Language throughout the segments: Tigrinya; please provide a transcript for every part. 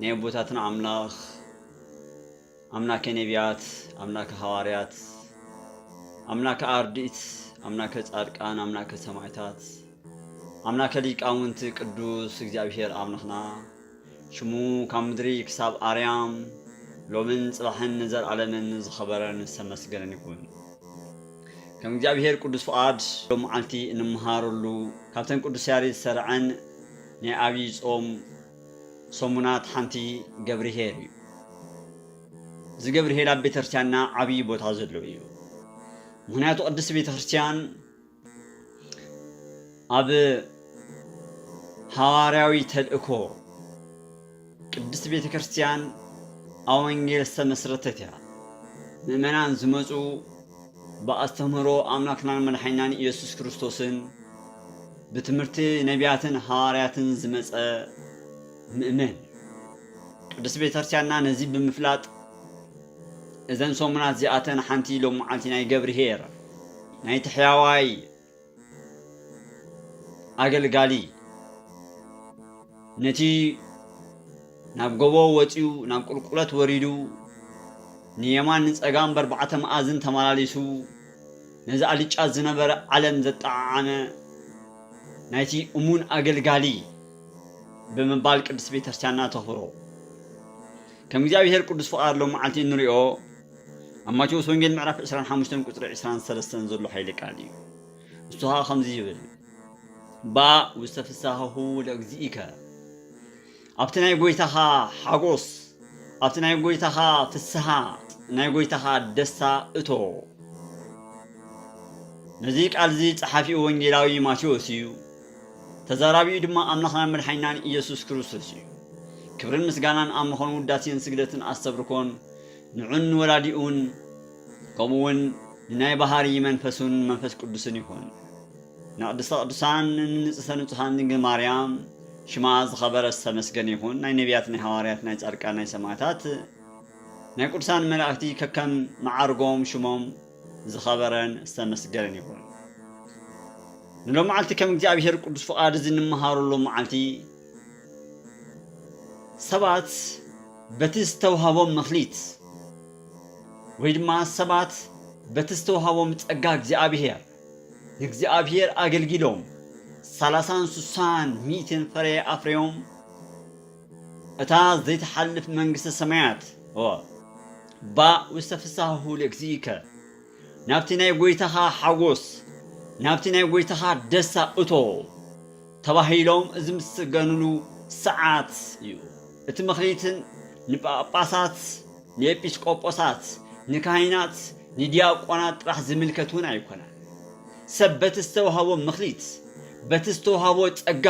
ናይ ኣቦታትና ኣምላኽ ኣምላከ ነቢያት ኣምላከ ሃዋርያት ኣምላከ ኣርድእት ኣምላከ ጻድቃን ኣምላከ ሰማዕታት ኣምላከ ሊቃውንቲ ቅዱስ እግዚኣብሔር ኣምላኽና ሽሙ ካብ ምድሪ ክሳብ ኣርያም ሎምን ጽባሕን ንዘለዓለምን ዝኸበረን ዝተመስገነን ይኹን። ከም እግዚኣብሔር ቅዱስ ፍቓድ ሎም መዓልቲ እንመሃረሉ ካብተን ቅዱስ ያሬድ ዝተርዐን ናይ ኣብይ ጾም ሰሙናት ሓንቲ ገብርሄር እዩ። እዚ ገብርሄር ኣብ ቤተክርስቲያንና ዓብይ ቦታ ዘለዎ እዩ። ምክንያቱ ቅድስቲ ቤተክርስቲያን ኣብ ሃዋርያዊ ተልእኮ ቅድስት ቤተ ክርስቲያን ኣብ ወንጌል ዝተመስረተት እያ። ምእመናን ዝመጹ ብኣስተምህሮ ኣምላክናን መድሓኒናን ኢየሱስ ክርስቶስን ብትምህርቲ ነቢያትን ሃዋርያትን ዝመጸ ምእመን እዩ። ቅድስት ቤተ ክርስቲያንና ነዚ ብምፍላጥ እዘን ሰሙናት እዚኣተን ሓንቲ ሎሚ መዓልቲ ናይ ገብርሄር ናይቲ ሕያዋይ ኣገልጋሊ ነቲ ናብ ጎቦ ወፂኡ ናብ ቁልቁለት ወሪዱ ንየማን ንፀጋም በርባዕተ መኣዝን ተመላሊሱ ነዚ ኣልጫ ዝነበረ ዓለም ዘጠዓዓመ ናይቲ እሙን ኣገልጋሊ ብምባል ቅድስት ቤተክርስቲያንና ተኽብሮ። ከም እግዚኣብሔር ቅዱስ ፍቓድ ሎም መዓልቲ እንሪኦ ኣብ ማቴዎስ ወንጌል ምዕራፍ ዕስራን ሓሙሽተን ቁጽሪ ዕስራን ሰለስተን ዘሎ ሓይሊ ቃል እዩ። እሱ ኸኣ ከምዚ ይብል ባእ ውስተ ፍሳሃሁ ለእግዚእከ ኣብቲ ናይ ጎይታኻ ሓጎስ ኣብቲ ናይ ጎይታኻ ፍስሃ ናይ ጎይታኻ ደስታ እቶ ነዚ ቃል እዚ ጸሓፊኡ ወንጌላዊ ማቴዎስ እዩ ተዛራቢኡ ድማ ኣምላኽናን መድሓኒናን ኢየሱስ ክርስቶስ እዩ ክብርን ምስጋናን ኣብ ምኾኑ ውዳሴን ስግደትን ኣስተብርኮን ንዑን ንወላዲኡን ከምኡውን ንናይ ባህርይ መንፈሱን መንፈስ ቅዱስን ይኹን። ንቅድስተ ቅዱሳን ንንጽህተ ንጹሃን ድንግል ማርያም ሽማ ዝኸበረ ዝተመስገነ ይኹን ናይ ነቢያት ናይ ሃዋርያት ናይ ጻድቃን ናይ ሰማዕታት ናይ ቅዱሳን መላእክቲ ከከም መዓርጎም ሽሞም ዝኸበረን ዝተመስገነን ይኹን። ንሎመዓልቲ ከም እግዚኣብሔር ቅዱስ ፍቓድ እዚ ንመሃረሉ መዓልቲ ሰባት በቲ ዝተውሃቦም መክሊት ወይ ድማ ሰባት በቲ ዝተውሃቦም ጸጋ እግዚኣብሔር ንእግዚኣብሔር ኣገልጊሎም ሰላሳን ስሳን ሚእትን ፍረ ኣፍርዮም እታ ዘይትሓልፍ መንግስተ ሰማያት ባእ ውስተ ፍሳሁ ለእግዚእከ ናብቲ ናይ ጎይታኻ ሓጎስ ናብቲ ናይ ጎይታኻ ደስታ እቶ ተባሂሎም ዝምስገንሉ ሰዓት እዩ። እቲ መክሊትን ንጳጳሳት፣ ንኤጲስቆጶሳት፣ ንካህናት፣ ንዲያቆናት ጥራሕ ዝምልከት እውን ኣይኮነን። ሰብ በቲ ዝተውሃቦ መክሊት፣ በቲ ዝተውሃቦ ጸጋ፣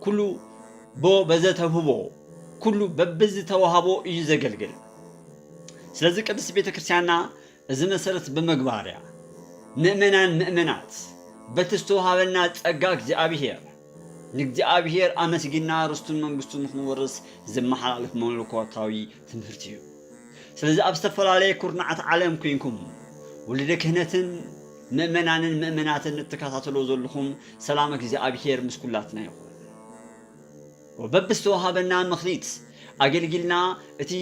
ኩሉ ቦ በዘተውህቦ፣ ኩሉ በብዝተውሃቦ እዩ ዘገልግል። ስለዚ ቅድስት ቤተ ክርስቲያንና እዚ መሰረት ብምግባር እያ ምእመናን ምእመናት በቲ ዝተወሃበና ጸጋ እግዚኣብሔር ንእግዚኣብሔር ኣመስጊንና ርስቱን መንግስቱን ንክንወርስ ዝመሓላለፍ መለኮታዊ ትምህርቲ እዩ። ስለዚ ኣብ ዝተፈላለየ ኩርናዓት ዓለም ኩንኩም ውሉደ ክህነትን ምእመናንን ምእመናትን እትከታተልዎ ዘለኹም ሰላም እግዚኣብሔር ምስ ኩላትና ይኹን። ወበብዝተወሃበና መክሊት ኣገልጊልና እቲ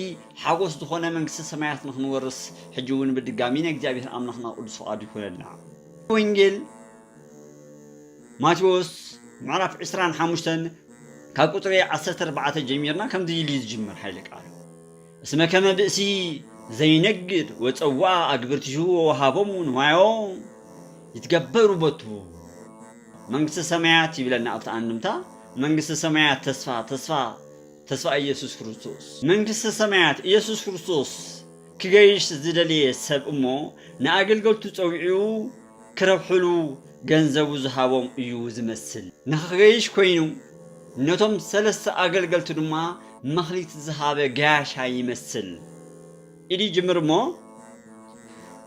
ሓጎስ ዝኾነ መንግስተ ሰማያት ንክንወርስ ሕጂ እውን ብድጋሚ ናይ እግዚኣብሔር ኣምላክና ቅዱስ ፍቃዱ ይኩነልና። ወንጌል ማቴዎስ ምዕራፍ ዕስራን ሓሙሽተን ካብ ቁጽሪ ዓሰርተ ኣርባዕተ ጀሚርና ከምዚ ኢሉ እዩ ዝጅምር ሓይለ ቃሉ እስመ ከመ ብእሲ ዘይነግድ ወጸውዐ ኣግብርቲሁ ወወሃቦሙ ንዋዮ ይትገበሩ ቦቱ መንግስተ ሰማያት ይብለና ኣብቲ ኣንድምታ መንግስተ ሰማያት ተስፋ ተስፋ ተስፋ ኢየሱስ ክርስቶስ መንግስተ ሰማያት ኢየሱስ ክርስቶስ ክገይሽ ዝደለየ ሰብ እሞ ንኣገልገልቱ ጸዊዑ ክረብሕሉ ገንዘቡ ዝሃቦም እዩ ዝመስል ንክገይሽ ኮይኑ ነቶም ሰለስተ ኣገልገልቱ ድማ መክሊት ዝሃበ ገያሻይ ይመስል ኢዲ ጅምር እሞ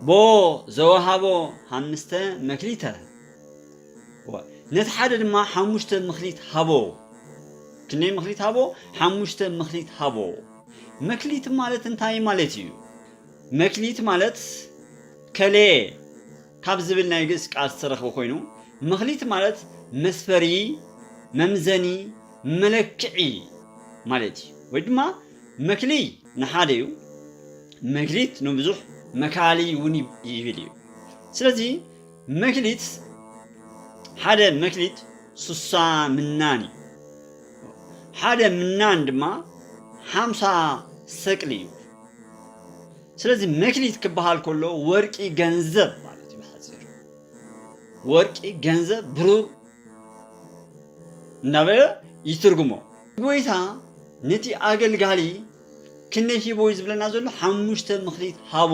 ቦ ዘወሃቦ ሃምስተ መክሊተ ነቲ ሓደ ድማ ሓሙሽተ ምክሊት ሃቦ። ክንደይ ምክሊት ሃቦ? ሓሙሽተ ምክሊት ሃቦ። መክሊት ማለት እንታይ ማለት እዩ? መክሊት ማለት ከለየ ካብ ዝብል ናይ ግእስ ቃል ዝተረኽበ ኮይኑ መክሊት ማለት መስፈሪ፣ መምዘኒ፣ መለክዒ ማለት እዩ። ወይ ድማ መክሊ ንሓደ እዩ፣ መክሊት ንብዙሕ መካሊ እውን ይብል እዩ። ስለዚ መክሊት ሓደ መክሊት ስሳ ምናን እዩ። ሓደ ምናን ድማ ሓምሳ ሰቅሊ እዩ። ስለዚ መክሊት ክበሃል ከሎ ወርቂ ገንዘብ ማለት እዩ ብሓፂሩ ወርቂ ገንዘብ ብሩር እናበለ ይትርጉሞ። ጎይታ ነቲ ኣገልጋሊ ክንደይ ሂቦ እዩ ዝብለና ዘሎ ሓሙሽተ መክሊት ሃቦ።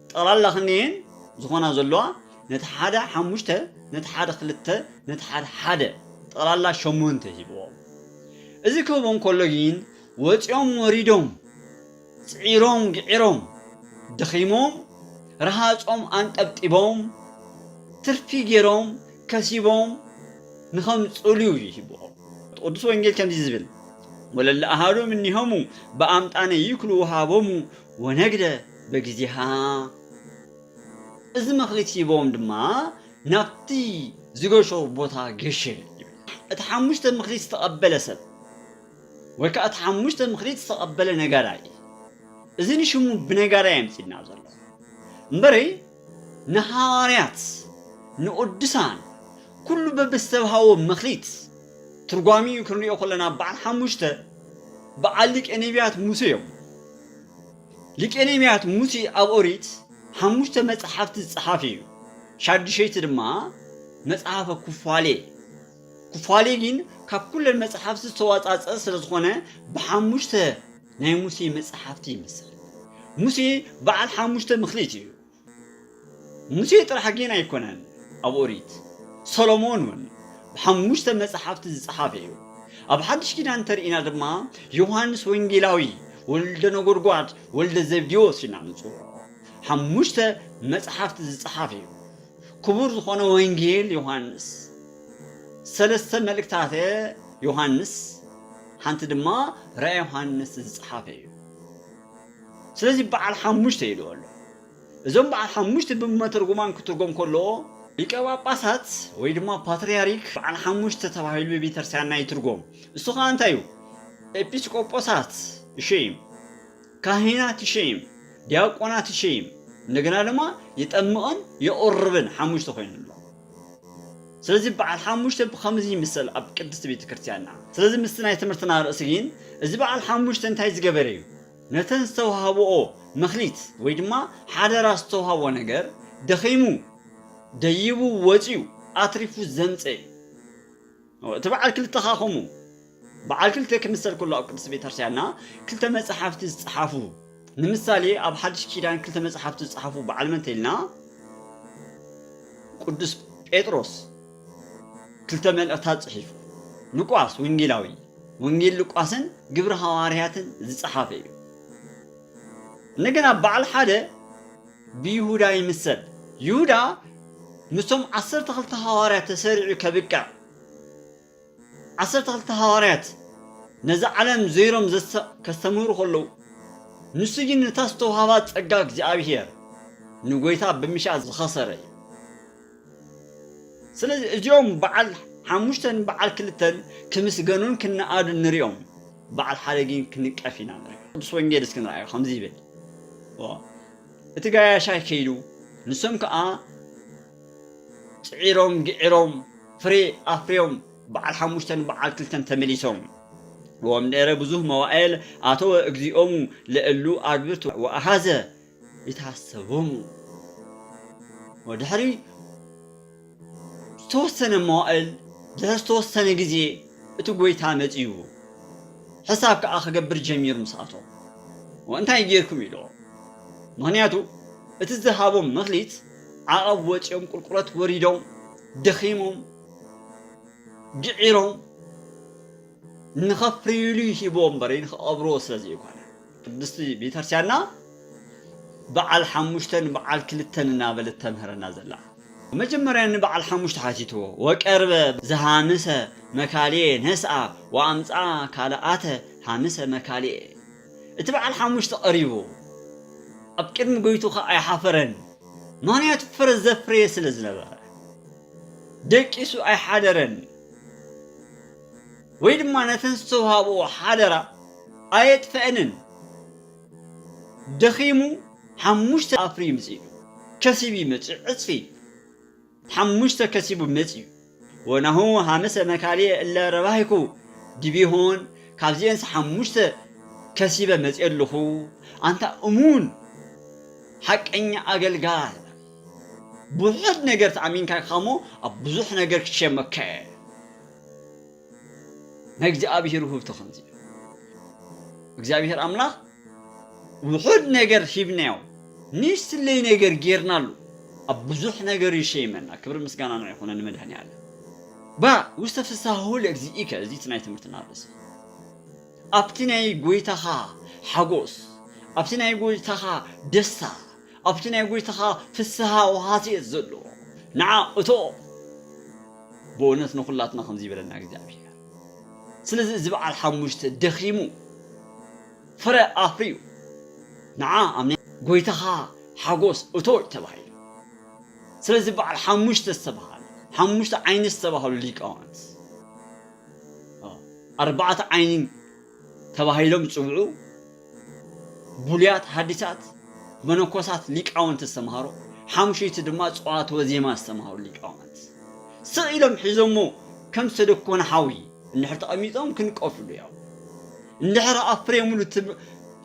ጠቕላላ ክንየን ዝኾና ዘለዋ ነቲ ሓደ ሓሙሽተ ነቲ ሓደ ክልተ ነቲ ሓደ ሓደ ጠቕላላ ሸሞንተ ሂብዎም። እዚ ክህቦም ከሎ ግን ወጺኦም ወሪዶም ጽዒሮም ግዒሮም ደኺሞም ረሃጾም ኣንጠብጢቦም ትርፊ ጌሮም ከሲቦም ንኸምጽእሉ እዩ ሂብዎም። ቅዱስ ወንጌል ከምዚ ዝብል ወለለ ኣሃዱ እምኔሆሙ በኣምጣነ ይክሉ ወሃቦሙ ወነግደ በጊዜሃ እዚ መክሊት ሂቦም ድማ ናብቲ ዝገሾ ቦታ ገሸ እቲ ሓሙሽተ ምክሊት ዝተቐበለ ሰብ ወይ ከዓ እቲ ሓሙሽተ ምክሊት ዝተቐበለ ነጋዳይ እዚ ንሽሙ ብነጋዳይ ኣምፂና ዘሎ እምበሪ ንሃዋርያት ንቅዱሳን ኩሉ በብዝተብሃዎ መክሊት ትርጓሚኡ ክንሪኦ ከለና በዓል ሓሙሽተ በዓል ሊቀ ነቢያት ሙሴ እዮም ሊቄ ነቢያት ሙሴ ኣብ ኦሪት ሓሙሽተ መጻሕፍቲ ዝጸሓፈ እዩ። ሻዱሸይቲ ድማ መጽሓፈ ኩፋሌ። ኩፋሌ ግን ካብ ኩለን መጻሕፍቲ ዝተዋጻጸ ስለ ዝኾነ ብሓሙሽተ ናይ ሙሴ መጻሕፍቲ ይምሰል። ሙሴ በዓል ሓሙሽተ ምክሊት እዩ። ሙሴ ጥራሕ ጌን ኣይኮነን ኣብ ኦሪት ሰሎሞን ውን ብሓሙሽተ መጽሓፍቲ ዝጸሓፈ እዩ ኣብ ሓድሽ ኪዳን እንተርኢና ድማ ዮሃንስ ወንጌላዊ ወልደ ነጎድጓድ ወልደ ዘብዴዎስ ኢና ንጽውዖ ሓሙሽተ መጽሓፍቲ ዝጸሓፈ እዩ ክቡር ዝኾነ ወንጌል ዮሃንስ ሰለስተ መልእክታተ ዮሃንስ ሓንቲ ድማ ራእይ ዮሃንስ ዝጸሓፈ እዩ ስለዚ በዓል ሓሙሽተ ኢልዎ ኣሎ። እዞም በዓል ሓሙሽተ ብመተርጉማን ክትርጎም ከሎ። ሊቀ ጳጳሳት ወይ ድማ ፓትርያርክ በዓል ሓሙሽተ ተባሂሉ ብቤተርስትያንና ይትርጎም። እሱ ኸኣ እንታይ እዩ? ኤጲስቆጶሳት ይሸይም፣ ካህናት ይሸይም፣ ዲያቆናት ይሸይም፣ እንደገና ድማ ይጠምቕን የቑርብን ሓሙሽተ ኮይኑ ኣሎ። ስለዚ በዓል ሓሙሽተ ብኸምዚ ይምሰል ኣብ ቅድስቲ ቤተ ክርስቲያንና። ስለዚ ምስቲ ናይ ትምህርትና ርእሲ ግን እዚ በዓል ሓሙሽተ እንታይ ዝገበረ እዩ? ነተን ዝተዋህብኦ መክሊት ወይ ድማ ሓደራ ዝተዋህቦ ነገር ደኺሙ ደይቡ ወጺኡ ኣትሪፉ ዘምጸ እዩ። እቲ በዓል ክልተ ካኹሙ በዓል ክልተ ክምሰል ከሎ ኣብ ቅድስት ቤተክርስቲያንና ክልተ መጽሓፍቲ ዝጸሓፉ ንምሳሌ ኣብ ሓድሽ ኪዳን ክልተ መጽሓፍቲ ዝጸሓፉ በዓል መን ተይልና ቅዱስ ጴጥሮስ ክልተ መልእኽታት ጽሒፉ ሉቃስ ወንጌላዊ ወንጌል ሉቃስን ግብረ ሃዋርያትን ዝጸሓፈ እዩ እንደገና በዓል ሓደ ብይሁዳ ይምሰል። ይሁዳ ምስቶም ዓሰርተ ክልተ ሃዋርያት ተሰሪዑ ከብቅዕ፣ ዓሰርተ ክልተ ሃዋርያት ነዛ ዓለም ዞይሮም ከስተምህሩ ከለዉ፣ ንሱ ግን ነታ ዝተውሃባ ጸጋ እግዚኣብሄር ንጐይታ ብምሻ ዝኸሰረ እዩ። ስለዚ እዚኦም በዓል ሓሙሽተን በዓል ክልተን ክምስገኑን ክነኣዱን ንሪኦም፣ በዓል ሓደ ግን ክንቀፍ ኢና ንርኢ። ቅዱስ ወንጌል እስኪ ንርኣዮ ከምዚ ይብል እቲ ጋያሻይ ከይዱ ንሶም ከዓ ፅዒሮም ግዒሮም ፍሬ ኣፍርዮም በዓል ሓሙሽተን በዓል ክልተን ተመሊሶም ወምደረ ብዙህ መዋኤል ኣተወ እግዚኦሙ ለእሉ ኣግብርቱ ወኣሃዘ ይትሃሰቦም እዩ። ወድሕሪ ዝተወሰነ መዋእል ድሕሪ ዝተወሰነ ግዜ እቲ ጎይታ መጺኡ ሕሳብ ከኣ ክገብር ጀሚሩ ምስ ኣቶ እንታይ ጌርኩም ኢሎ ምክንያቱ እቲ ዝሃቦም መክሊት ዓቐብ ወጺኦም ቁልቁለት ወሪዶም ደኺሞም ግዒሮም ንኸፍርዩሉ ይህብዎ እምበር ንኽቐብርዎ ስለ ዘይኮነ። ቅድስቲ ቤተክርስቲያንና በዓል ሓሙሽተ ንበዓል ክልተ እናበለት ተምህረና ዘላ። መጀመርያ ንበዓል ሓሙሽተ ሓቲትዎ ወቀርበ ዘሃምሰ መካልኤ ነስኣ ወኣምጽኣ ካልኣተ ሃምሰ መካልኤ እቲ በዓል ሓሙሽተ ቀሪቡ ኣብ ቅድሚ ጎይቱ ከኣ ኣይሓፈረን ምክንያቱ ፍረ ዘፍረየ ስለ ዝነበረ ደቂሱ ኣይሓደረን ወይ ድማ ነተን ዝተውሃብኦ ሓደራ ኣየጥፈኣንን ደኺሙ ሓሙሽተ ኣፍርዩ መጺኡዶ ከሲቡ ይመጽእ ዕጽፊ ሓሙሽተ ከሲቡ መጺኡ ወናሁ ሃምሰ መካልየ እለ ረባሂኩ ዲቢሆን ካብዚኤንስ ሓሙሽተ ከሲበ መጺኤ ኣለኹ ኣንታ እሙን ሓቀኛ ኣገልጋል ብውሑድ ነገር ተኣሚንካ ኢኻሞ ኣብ ብዙሕ ነገር ክትሸመከ ናይ እግዚኣብሔር ውህብቶ ከምዚ እዩ እግዚኣብሔር ኣምላኽ ውሑድ ነገር ሂብናዮ ንስለይ ነገር ጌርናሉ ኣብ ብዙሕ ነገር ይሸይመና ክብሪ ምስጋና ንዕ ይኹነ ንመድሃኒ ኣለ ባ ውስተ ፍሳሁ ለግዚኢከ እዚ እቲ ናይ ትምህርትና ርእሲ ኣብቲ ናይ ጎይታኻ ሓጎስ ኣብቲ ናይ ጎይታኻ ደስታ ኣብቲ ናይ ጎይታኻ ፍስሃ ወሃሲ እየ ዘሎ ንዓ እቶ። በእውነት ንኩላትና ከምዚ ይበለና እግዚኣብሔር ስለዚ እዚ በዓል ሓሙሽተ ደኺሙ ፍረ ኣፍርዩ ንዓ ኣብ ናይ ጎይታኻ ሓጎስ እቶ እዩ ተባሂሉ ስለዚ በዓል ሓሙሽተ ዝተብሃለ ሓሙሽተ ዓይኒ ዝተባህሉ ሊቃውንት ኣርባዕተ ዓይኒ ተባሂሎም ዝጽውዑ ብሉያት ሃዲሳት መነኮሳት ሊቃውንቲ ዝተምሃሮ ሓሙሽይቲ ድማ ጸዋትወ ዜማ ዝተምሃሩ ሊቃውንት ስቕ ኢሎም ሒዞሞ ከም ዝተደኮነ ሓዊ እንድሕር ተቐሚጦም ክንቀፍሉ ያው እንድሕር ኣፍሬሙሉ ትብ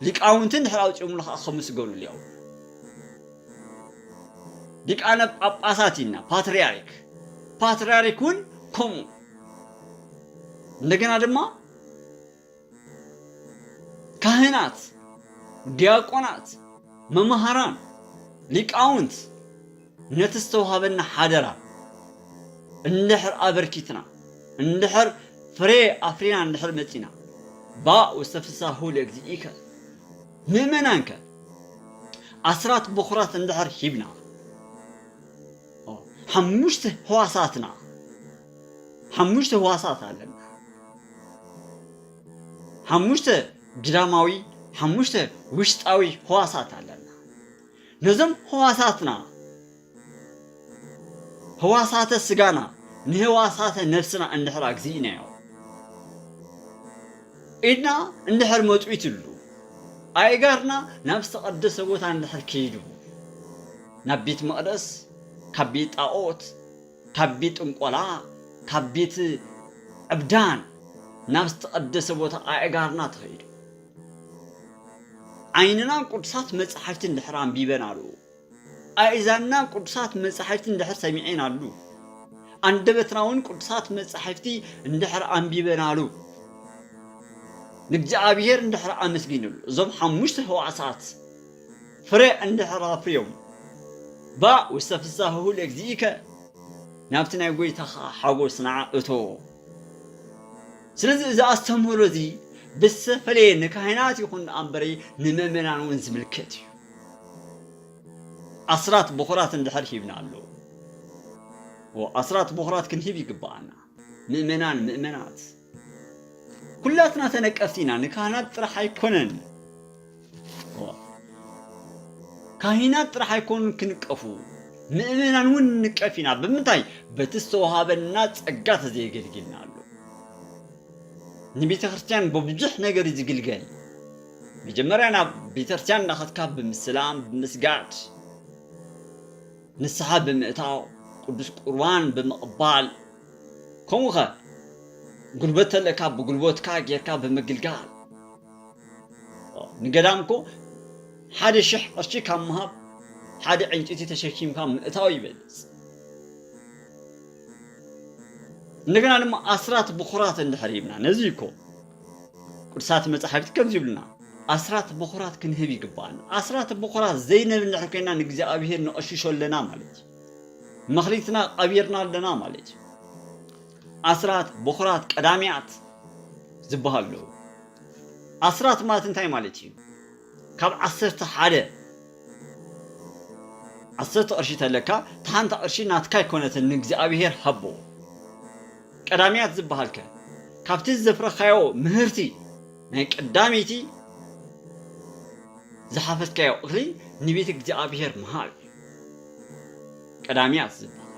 ሊቃውንቲ እንድሕር ኣውጺኦምሉ ከዓ ከምስገኑሉ ያው ሊቃነ ጳጳሳት ኢና ፓትርያርክ ፓትርያርክ እውን ከምኡ እንደገና ድማ ካህናት፣ ዲያቆናት፣ መማህራን፣ ሊቃውንት ነቲ ዝተውሃበና ሓደራ እንድሕር ኣበርኪትና፣ እንድሕር ፍሬ ኣፍሪና እንድሕር መጺእና፣ ባእ ውስተ ፍሥሓሁ ለእግዚእከ፣ ምእመናንከ ኣሥራት በኩራት እንድሕር ሂብና፣ ሓሙሽተ ሕዋሳትና፣ ሓሙሽተ ህዋሳት ኣለና። ሓሙሽተ ግዳማዊ፣ ሓሙሽተ ውሽጣዊ ህዋሳት ኣለና። ነዞም ህዋሳትና ህዋሳተ ስጋና ንህዋሳተ ነፍስና እንድሕር ኣግዚእናዮ ኢድና እንድሕር መጥዊትሉ ኣእጋርና ናብ ዝተቐደሰ ቦታ እንድሕር ከይዱ ናብ ቤት መቕደስ ካብ ቤት ጣዖት ካቢ ጥንቆላ ካቢት ዕብዳን ናብ ዝተቐደሰ ቦታ ኣእጋርና ተኸይዱ። ዓይንና ቅዱሳት መጻሕፍቲ እንድሕር ኣንቢበናሉ፣ ኣእዛንና ቅዱሳት መጻሕፍቲ እንድሕር ሰሚዔናሉ፣ ኣንደበትና እውን ቅዱሳት መጻሕፍቲ እንድሕር ኣንቢበናሉ፣ ንእግዚኣብሔር እንድሕር ኣመስጊንሉ፣ እዞም ሓሙሽተ ህዋሳት ፍረ እንድሕር ኣፍርዮም ባእ ውስተ ፍሳህሁ ለእግዚእከ፣ ናብቲ ናይ ጐይታኻ ሓጐስ ንዓ እተዎ። ስለዚ እዚ ኣስተምህሮ እዚ ብዝተፈለየ ንካህናት ይኹን ደኣ እምበሪ ንመእመናን እውን ዝምልከት እዩ። ኣስራት በዅራት እንድሕር ሂብና ኣሎ ኣስራት በዅራት ክንህብ ይግብኣና ምእመናን ምእመናት። ኩላትና ተነቀፍቲ ኢና ንካህናት ጥራሕ ኣይኮነን ካሂናት ጥራሕ ኣይኮኑን ክንቀፉ ምእመናን እውን ንቀፍ ኢና ብምንታይ በቲ ዝተዋሃበና ጸጋ ተዘየገልግልና ኣሎ ንቤተ ክርስቲያን ብብዙሕ ነገር እዩ ዝግልገል መጀመርያ ናብ ቤተ ክርስቲያን እንዳኸትካ ብምስላም ብምስጋድ ንስሓ ብምእታው ቅዱስ ቁርባን ብምቕባል ከምኡ ከ ጉልበት ተለካ ብጉልበትካ ጌርካ ብምግልጋል ንገዳም እኮ ሓደ ሽሕ ቅርሺ ካብ ምሃብ ሓደ ዕንጭቲ ተሸኪምካ ምእታው ይበልፅ እንደገና ድማ ኣስራት ብኩራት እንድሕር ሂብና ነዚ እኮ ቅዱሳት መጻሕፍቲ ከምዚ ይብሉና ኣስራት ብኩራት ክንህብ ይግባኣና ኣስራት ብኩራት ዘይንህብ እንድሕር ኮይና ንእግዚኣብሄር ንቐሽሾ ኣለና ማለት እዩ መክሊትና ቀቢርና ኣለና ማለት እዩ ኣስራት ቦኽራት ቀዳሚያት ዝበሃሉ ኣለዉ ኣስራት ማለት እንታይ ማለት እዩ ካብ ዓሰርተ ሓደ ዓሰርተ ቅርሺ ተለካ ተሓንቲ ቅርሺ ናትካ ኣይኮነትን ንእግዚኣብሄር ሃቦ ቀዳሚያት ዝበሃልከ ካብቲ ዘፍረኻዮ ምህርቲ ናይ ቀዳመይቲ ዝሓፈስካዮ ቕሪ ንቤት እግዚኣብሔር ምሃብ እዩ ቀዳሚያት ዝበሃል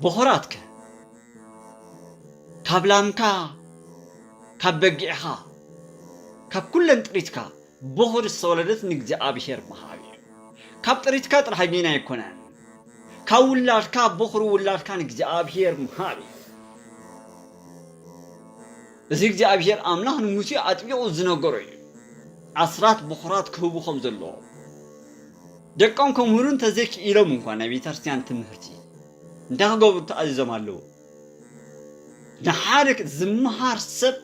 ቦኸራት ከ ካብ ላምካ ካብ በጊዕኻ ካብ ኩለን ጥሪትካ ቦኽር ዝተወለደት ንእግዚኣብሔር ምሃብ እዩ ካብ ጥሪትካ ጥራሕ ግን ኣይኮነን ካብ ውላድካ ቦኽሪ ውላድካ ንእግዚኣብሔር ምሃብ እዩ እዚ እግዚኣብሄር ኣምላኽ ንሙሴ ኣጥቢቑ ዝነገሮ እዩ። ኣስራት ብዅራት ክህቡ ከም ዘለዎም ደቆም ከምህሩ እንተዘይክኢሎም እንኳ ናይ ቤተ ክርስትያን ትምህርቲ እንታይ ክገብሩ ተኣዚዞም ኣለዉ? ንሓደ ዝመሃር ሰብ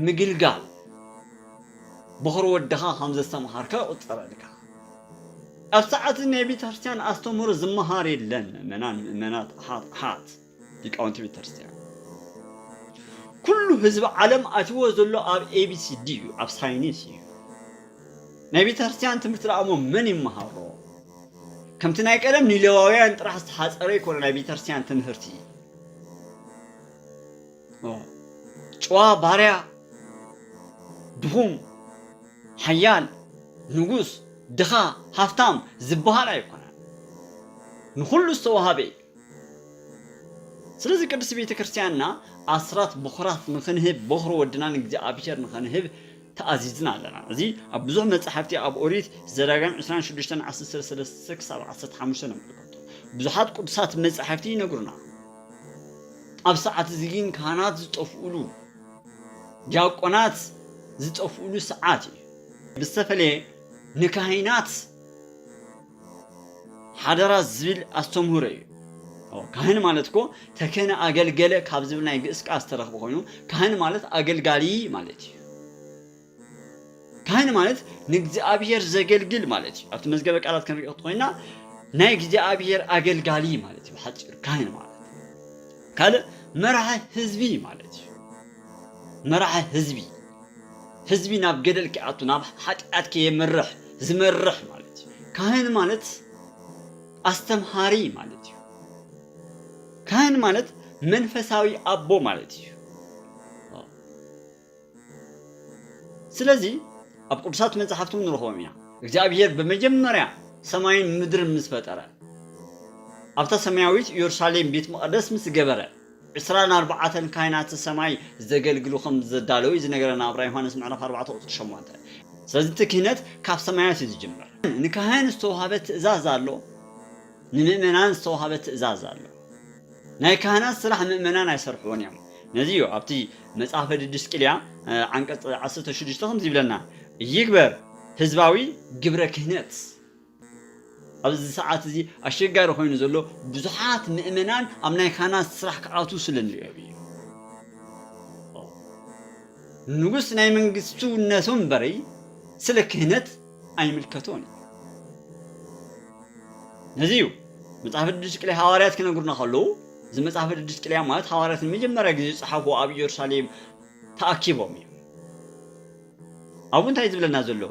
ምግልጋል በዅሪ ወድኻ ከም ዘስተምሃርከ ይቝጸረልካ። ኣብ ሰዓት ናይ ቤተ ክርስትያን ኣስተምህሮ ዝመሃር የለን ምእመናን ምእመናት ኣሓት ኣሓት ሊቃውንቲ ቤተክርስትያን ኩሉ ህዝቢ ዓለም ኣትዎ ዘሎ ኣብ ኤቢሲዲ እዩ ኣብ ሳይኒስ እዩ ናይ ቤተክርስትያን ትምህርቲ ደኣሞ መን ይመሃሮ ከምቲ ናይ ቀደም ንሌዋውያን ጥራሕ ዝተሓፀረ ይኮነ ናይ ቤተክርስትያን ትምህርቲ ጨዋ ባርያ ድኹም ሓያል ንጉስ ድኻ ሃፍታም ዝበሃል ኣይኮነን ንኩሉ ዝተዋሃበ እዩ ስለዚ ቅድስቲ ቤተ ክርስቲያንና ኣስራት ብኩራት ንኽንህብ ቦኽሪ ወድና ንእግዚኣብሔር ንኸንህብ ተኣዚዝና ኣለና። እዚ ኣብ ብዙሕ መጻሕፍቲ ኣብ ኦሪት ዘዳግም ዕስራን ሽዱሽተን ዓሰርተ ሰለስተ ክሳብ ዓሰርተ ሓሙሽተ ነምልከቶ። ብዙሓት ቅዱሳት መጻሕፍቲ ይነግሩና። ኣብ ሰዓት እዚ ግን ካህናት ዝጠፍኡሉ ዲያቆናት ዝጠፍኡሉ ሰዓት እዩ። ብዝተፈለየ ንካህናት ሓደራ ዝብል ኣስተምህሮ እዩ ካህን ማለት እኮ ተከነ ኣገልገለ ካብ ዝብል ናይ ግእስ ቃል ዝተረኽበ ኮይኑ ካህን ማለት ኣገልጋሊ ማለት እዩ ካህን ማለት ንእግዚኣብሔር ዘገልግል ማለት እዩ ኣብቲ መዝገበ ቃላት ክንሪኦ ኮይና ናይ እግዚኣብሔር ኣገልጋሊ ማለት እዩ ብሓፂሩ ካህን ማለት ካልእ መራሒ ህዝቢ ማለት እዩ መራሒ ህዝቢ ህዝቢ ናብ ገደል ክኣቱ ናብ ሓጢኣት ከየምርሕ ዝመርሕ ማለት እዩ ካህን ማለት ኣስተምሃሪ ማለት እዩ ካህን ማለት መንፈሳዊ ኣቦ ማለት እዩ ስለዚ ኣብ ቅዱሳት መጽሓፍትም ንረኽቦም ኢና እግዚኣብሄር ብመጀመርያ ሰማይን ምድርን ምስ ፈጠረ ኣብታ ሰማያዊት ኢየሩሳሌም ቤት መቐደስ ምስ ገበረ ዕስራን ኣርባዓተን ካህናተ ሰማይ ዘገልግሉ ከም ዘዳለዉ እዩ ዝነገረና ኣብ ራእይ ዮሃንስ ምዕራፍ ኣርባዕተ ቁጽሪ ሸሞንተ። ስለዚ እቲ ክህነት ካብ ሰማያት እዩ ዝጅምር። ንካህን ዝተዋህበ ትእዛዝ ኣሎ፣ ንምእመናን ዝተዋህበ ትእዛዝ ኣሎ። ናይ ካህናት ስራሕ ምእመናን ኣይሰርሕዎን እዮም። ነዚ እዩ ኣብቲ መጽሐፈ ድድስቅልያ ዓንቀጽ ዓሰርተ ሽዱሽተ ከምዚ ይብለና፣ ይግበር ህዝባዊ ግብረ ክህነት። ኣብዚ ሰዓት እዚ ኣሸጋሪ ኮይኑ ዘሎ ብዙሓት ምእመናን ኣብ ናይ ካህናት ስራሕ ክኣትዉ ስለ ንሪኦም እዩ ንጉስ ናይ መንግስቱ ነቶም እምበረይ ስለ ክህነት ኣይምልከቶን እዩ ነዚ እዩ መጽሓፍ ቅዱስ ቅልያ ሃዋርያት ክነግሩና ከለዉ እዚ መጽሓፍ ቅዱስ ቅልያ ማለት ሃዋርያት ንመጀመርያ ግዜ ዝጸሓፉ ኣብ ኢየሩሳሌም ተኣኪቦም እዩ ኣብኡ እንታይ እዩ ዝብለና ዘሎ?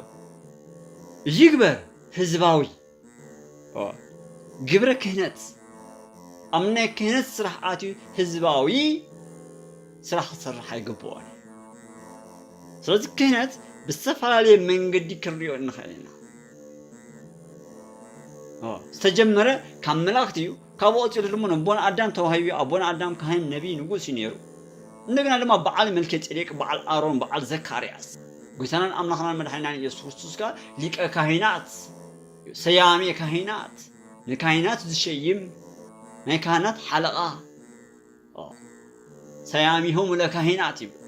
እዚ ይግበር ህዝባዊ ግብረ ክህነት ኣብ ናይ ክህነት ስራሕ ኣትዩ ህዝባዊ ስራሕ ክሰርሕ ኣይግብኦን። ስለዚ ክህነት ብዝተፈላለየ መንገዲ ክንሪኦ ንኽእል ኢና። ዝተጀመረ ካብ መላእኽቲ እዩ ካብኡ ቀጺሉ ድማ ነቦና ኣዳም ተዋሂቡ እዩ። ኣቦና ኣዳም ካህን፣ ነብይ፣ ንጉስ እዩ ነይሩ። እንደገና ድማ በዓል መልከጼዴቅ፣ በዓል ኣሮን፣ በዓል ዘካርያስ። ጎይታናን ኣምላኽናን መድሓኒናን ኢየሱስ ክርስቶስ ከኣ ሊቀ ካህናት እዩ። ሰያሜ ካህናት፣ ንካህናት ዝሸይም፣ ናይ ካህናት ሓለቓ። ሰያሚሆሙ ለካሂናት ይብሉ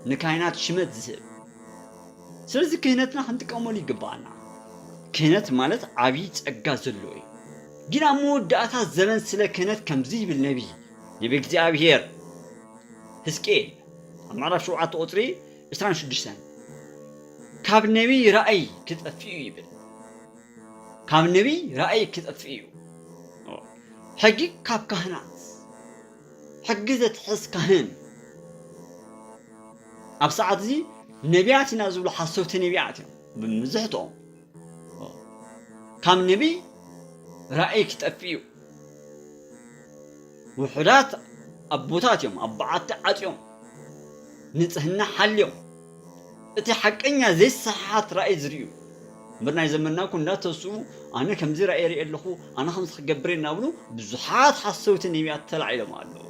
ንካሂናት ሽመት ዝህብ ስለዚ ክህነትና ክንጥቀመሉ ይግባኣና ክህነት ማለት ዓብዪ ጸጋ ዘለዎ እዩ ግን ኣብ መወዳእታ ዘበን ስለ ክህነት ከምዚ ይብል ነቢይ ነቢ እግዚኣብሄር ህዝቅኤል ኣብ ምዕራፍ ሸውዓተ ቁፅሪ ዕስራን ሽዱሽተን ካብ ነቢይ ራእይ ክጠፍእ እዩ ይብል ካብ ነቢይ ራእይ ክጠፍእ እዩ። ሕጊ ካብ ካህናት ሕጊ ዘትሕዝ ካህን ኣብ ሰዓት እዚ ነቢያት ኢና ዝብሉ ሓሰውቲ ነቢያት እዮም ብምዝሕትኦም ካብ ነቢይ ራእይ ክጠፍእ እዩ ውሑዳት ኣቦታት እዮም ኣብ በዓቲ ዓፅዮም ንፅህና ሓልዮም እቲ ሓቀኛ ዘይሰሓሓት ራእይ ዝርእዩ እምበር ናይ ዘመንና እኮ እንዳተስኡ ኣነ ከምዚ ራእይ ሪኤ ኣለኹ ኣነ ከምዚ ክገብር እየ እናብሉ ብዙሓት ሓሰውቲ ነቢያት ተላዒሎም ኣለዉ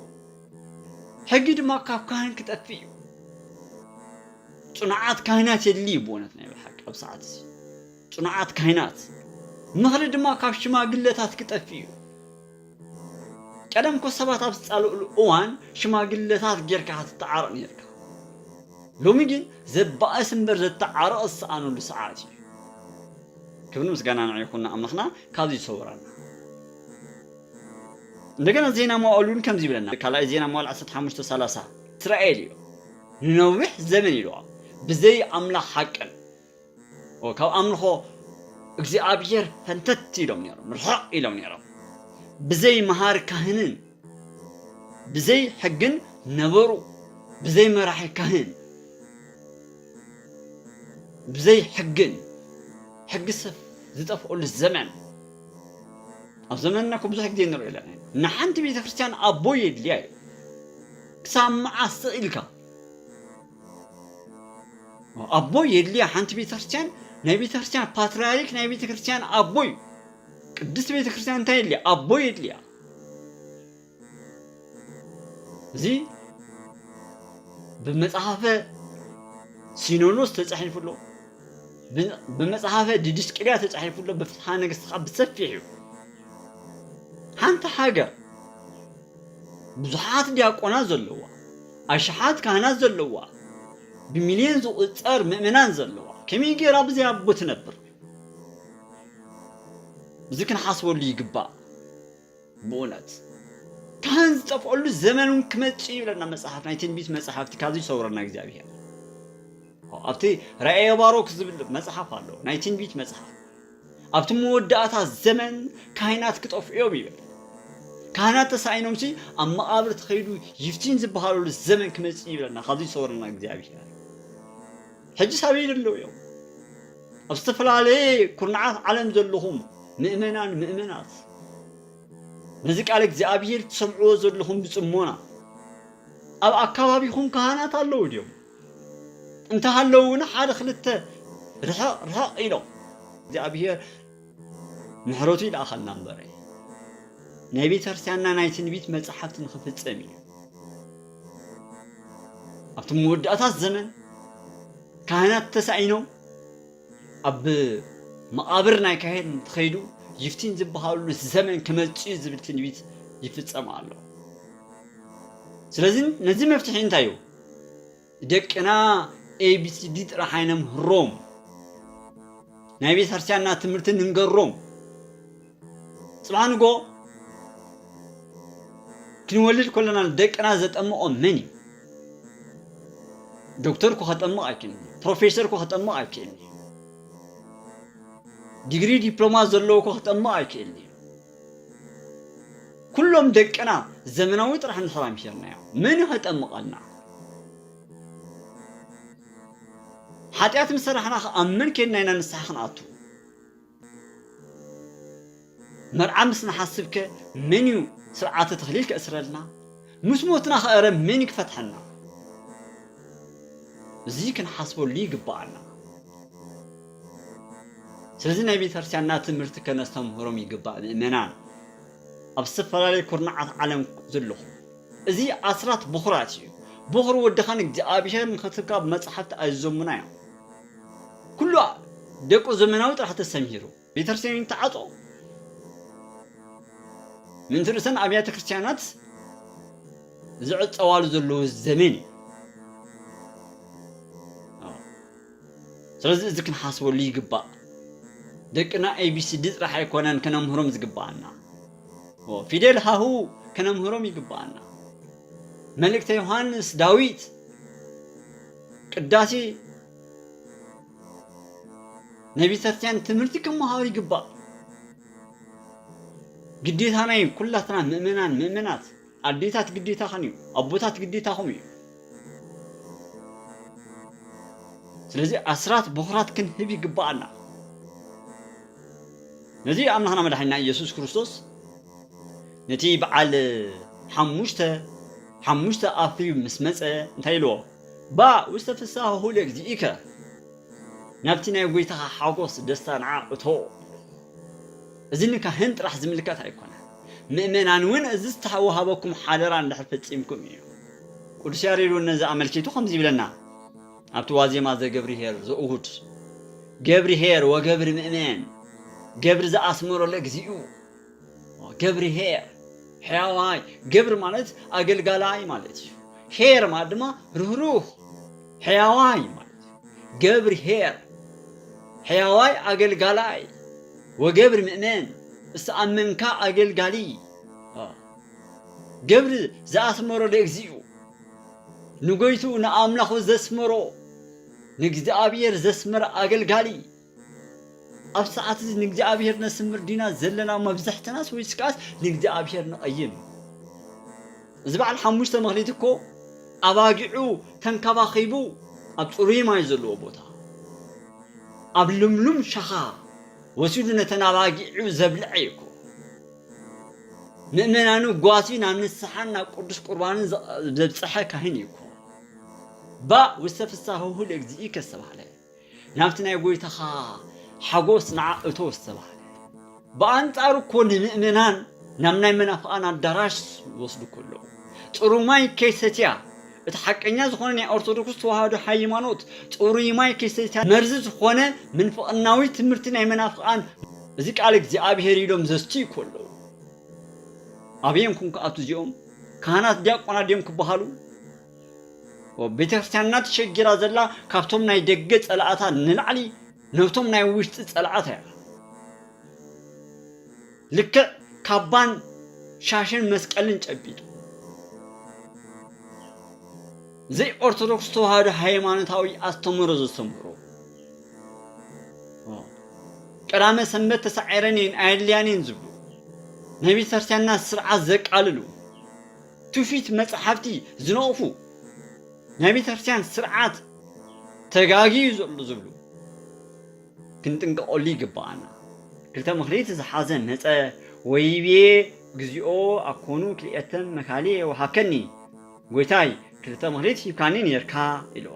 ሕጊ ድማ ካብ ካህን ክጠፍእ እዩ ጽኑዓት ካህናት የድልዩ ብእውነት ናይ ብሓቂ ኣብ ሰዓት እዚ ጽኑዓት ካህናት ምኽሪ ድማ ካብ ሽማግለታት ክጠፍእ እዩ ቀደም እኮ ሰባት ኣብ ዝጻልእሉ እዋን ሽማግለታት ጌርካ ኢኻ ትተዓረቕ ኔርካ። ሎሚ ግን ዘባእስ እምበር ዘተዓርቕ ዝሰኣነሉ ሰዓት እዩ። ክብርን ምስጋናን ንዕኡ ይኹን ንኣምላኽና ካብዚ ይሰውረና። እንደገና ዜና መዋዕል እውን ከምዚ ይብለና ካልኣይ ዜና መዋዕል ዓሰርተ ሓሙሽተ ሰላሳ እስራኤል እዩ ንነዊሕ ዘመን ኢልዋ ብዘይ ኣምላኽ ሓቅን ካብ ኣምልኾ እግዚኣብሔር ፈንተት ኢሎም ነይሮም፣ ርሕቕ ኢሎም ነይሮም። ብዘይ መሃሪ ካህንን ብዘይ ሕግን ነበሩ፣ ብዘይ መራሒ ካህን ብዘይ ሕግን ሕጊ ሰብ ዝጠፍኡሉ ዘመን ኣብ ዘመንና እኮ ብዙሕ ግዜ ንሪኦ ኣለና ንሓንቲ ቤተ ክርስቲያን ኣቦ የድልያ እዩ ክሳብ መዓስ ኢልካ ኣቦ የድልያ ሓንቲ ቤተክርስትያን ናይ ቤተክርስትያን ፓትርያርክ ናይ ቤተክርስትያን ኣቦ እዩ ቅድስት ቤተክርስትያን እንታይ የድልያ ኣቦ የድልያ እዚ ብመጽሓፈ ሲኖኖስ ተጻሒፉ ኣሎ ብመጽሓፈ ዲድስቅልያ ተጻሒፉ ኣሎ ብፍትሓ ነገስት ከዓ ብሰፊሕ እዩ ሓንቲ ሃገር ብዙሓት ዲያቆናት ዘለዋ ኣሽሓት ካህናት ዘለዋ፣ ብሚልዮን ዝቑጸር ምእመናን ዘለዋ፣ ከመይ ገይራ ብዘይ ኣቦ ትነብር? እዚ ክንሓስበሉ ይግባእ። ብኡነት ካህን ዝጠፍኦሉ ዘመን እውን ክመጽእ እዩ ይብለና መጽሓፍ፣ ናይ ትንቢት መጽሓፍቲ ካብዚ ይሰውረና እግዚኣብሄር። ኣብቲ ራእየ ባሮክ ዝብል መጽሓፍ ኣሎ፣ ናይ ትንቢት መጽሓፍ። ኣብቲ መወዳእታ ዘመን ካህናት ክጠፍዑ እዮም ይብል ካህናት ተሳኢኖም ሲ ኣብ መቓብር ተኸይዱ ይፍቲን ዝበሃለሉ ዘመን ክመፅእ ይብለና ካብዚ ይሰወረና እግዚኣብሔር ሕጂ ሳበይ ዘለዉ እዮም ኣብ ዝተፈላለየ ኩርናዓት ዓለም ዘለኹም ምእመናን ምእመናት ነዚ ቃል እግዚኣብሔር ትሰምዕዎ ዘለኹም ብፅሞና ኣብ ኣካባቢኹም ካህናት ኣለዉ ድዮም እንተሃለዉ እውን ሓደ ክልተ ርሕቕ ርሕቕ ኢሎም እግዚኣብሔር ምሕረቱ ይልኣኸልና እምበረ ናይ ቤተ ክርስቲያንና ናይ ትንቢት መጽሓፍቲ ንክፍጸም እዩ ኣብቲ መወዳእታት ዘመን ካህናት ተሳኢኖም ኣብ መቓብር ናይ ካህን እንትኸይዱ ይፍቲን ዝበሃሉ ዘመን ክመፅእ ዝብል ትንቢት ይፍፀም ኣሎ ስለዚ ነዚ መፍትሒ እንታይ እዩ ደቅና ኤቢሲዲ ጥራሕ ኣይነምህሮም ናይ ቤተ ክርስቲያንና ትምህርቲ ንንገሮም ፅባሕ ንጎ ክንወልድ ከለና ደቅና ዘጠምቖም መን እዩ ዶክተር እኮ ከጠምቕ ኣይክእልን እዩ ፕሮፌሰር እኮ ከጠምቕ ኣይክእልን እዩ ዲግሪ ዲፕሎማ ዘለዎ እኮ ከጠምቕ ኣይክእልን እዩ ኩሎም ደቅና ዘመናዊ ጥራሕ እንድሕር ኣምሒርናዮም መን እዩ ከጠምቐና? ሓጢኣት ምስ ሰራሕናኸ ኣብ መን ኬድና ኢና ንስሓ ክንኣቱ? መርዓ ምስ ንሓስብከ መን እዩ ስርዓተ ተኽሊል ከእስረልና? ምስ ሞትናኸ እረ መን እዩ ክፈትሐና? እዚ ክንሓስበሉ ይግበኣና። ስለዚ ናይ ቤተክርስቲያንና ትምህርቲ ከነስተምህሮም ይግባእ ምእመናን ኣብ ዝተፈላለዩ ኩርናዓት ዓለም ዘለኹም እዚ ኣስራት ብኹራት እዩ ብኹር ወድኻን እግዚኣብሔር ንክትካብ መጽሓፍቲ ኣዘሙና እዮም ኩሉ ደቁ ዘመናዊ ጥራሕ ተሰምሂሩ ቤተክርስቲያን ይተዓጾ ምንቲ ርእሰን ኣብያተ ክርስቲያናት ዝዕጸዋሉ ዘለዉ ዘመን እዩ ስለዚ እዚ ክንሓስበሉ ይግባእ። ደቅና ኤቢሲዲ ጥራሕ ኣይኮነን ከነምህሮም ዝግባኣና። ፊደል ሃሁ ከነምህሮም ይግባኣና። መልእክተ ዮሃንስ፣ ዳዊት፣ ቅዳሴ ናይ ቤተክርስትያን ትምህርቲ ክመሃሩ ይግባእ። ግዴታና እዩ ኩላትና ምእመናን ምእመናት ኣዴታት ግዴታኽን እዩ ኣቦታት ግዴታኹም እዩ ስለዚ ኣስራት በኹራት ክንህብ ይግባኣና ነዚ ኣምላኽና መድሓኒና ኢየሱስ ክርስቶስ ነቲ በዓል ሓሙሽተ ሓሙሽተ ኣፍሪብ ምስ መፀ እንታይ ኢልዎ ባእ ውስተ ፍስሃሁ ለእግዚእከ ናብቲ ናይ ጎይታኻ ሓጎስ ደስታ ንዓ እቶ እዚ ንካህን ጥራሕ ዝምልከት ኣይኮነን፣ ምእመናን እውን እዚ ዝተወሃበኩም ሓደራ እንድሕር ፈጺምኩም እዩ። ቅዱስ ያሬድ እውን ነዚ ኣመልኪቱ ከምዚ ይብለና ኣብቲ ዋዜማ ዘገብርኄር ዘእሁድ፣ ገብርኄር ወገብር ምእመን፣ ገብር ዘኣስመሮ ለእግዚኡ፣ ገብርኄር ሕያዋይ፣ ገብር ማለት ኣገልጋላይ ማለት እዩ፣ ኄር ማለት ድማ ርህሩህ፣ ሕያዋይ ማለት ገብር ኄር ሕያዋይ ኣገልጋላይ ወገብር ምእመን ዝተኣመንካ ኣገልጋሊ ገብር ዘኣስመሮ ለእግዚኡ ንጎይትኡ ንኣምላኹ ዘስመሮ ንእግዚኣብሔር ዘስመረ ኣገልጋሊ ኣብ ሰዓት እዚ ንእግዚኣብሔር ነስምር ዲና ዘለና መብዛሕትናስ ወይስ ከዓስ ንእግዚኣብሔር ንቐይም እዚ በዓል ሓሙሽተ መክሊት እኮ ኣባጊዑ ተንከባኺቡ ኣብ ፅሩይ ማይ ዘለዎ ቦታ ኣብ ልምሉም ሸኻ ወሲዱ ነተን ኣባጊዑ ዘብልዐ እዩ እኮ ምእመናኑ ጓሲ ናብ ንስሓን ናብ ቅዱስ ቁርባንን ዘብፅሐ ካህን እዩ እኮ ባእ ውስተ ፍሳህሁ ለእግዚእከ ዝተባህለ ናብቲ ናይ ጐይታኻ ሓጐስ ንዓ እቶ ዝተባህለ። ብኣንጻሩ እኮ ንምእመናን ናብ ናይ መናፍቓን ኣዳራሽ ይወስዱኩ ኣለዉ። ጽሩይ ማይ ከይሰትያ እቲ ሓቀኛ ዝኾነ ናይ ኦርቶዶክስ ተዋህዶ ሃይማኖት ጽሩይ ማይ ከይሰትያ መርዚ ዝኾነ ምንፍቕናዊ ትምህርቲ ናይ መናፍቓን እዚ ቃል እግዚኣብሔር ኢሎም ዘስትዩ እኮ ኣለዉ። ኣበየንኩም ክኣቱ እዚኦም ካህናት ዲያቆናት ድዮም ክበሃሉ? ቤተክርስትያንና ተሸጊራ ዘላ ካብቶም ናይ ደገ ጸላእታ ንላዕሊ ነብቶም ናይ ውሽጢ ጸላእታ እያ ልክዕ ካባን ሻሽን መስቀልን ጨቢጡ ዘይ ኦርቶዶክስ ተዋህዶ ሃይማኖታዊ ኣስተምህሮ ዘስተምህሩ ቀዳመ ሰንበት ተሳዒረን እየን ኣየድልያን እየን ዝብሉ ናይ ቤተክርስትያንና ስርዓት ዘቃልሉ ትውፊት መጻሕፍቲ ዝነቕፉ፣ ናይ ቤተክርስትያን ስርዓት ተጋጊዩ ዘሎ ዝብሉ ክንጥንቀቐሉ ይግብኣና። ክልተ ምክሊት ዝሓዘ መጸ ወይቤ እግዚኦ ኣኮኑ ክልኤተ መካልየ ወሃብከኒ፣ ጐይታይ ክልተ ምክሊት ሂብካኒ ኔርካ ኢልዎ።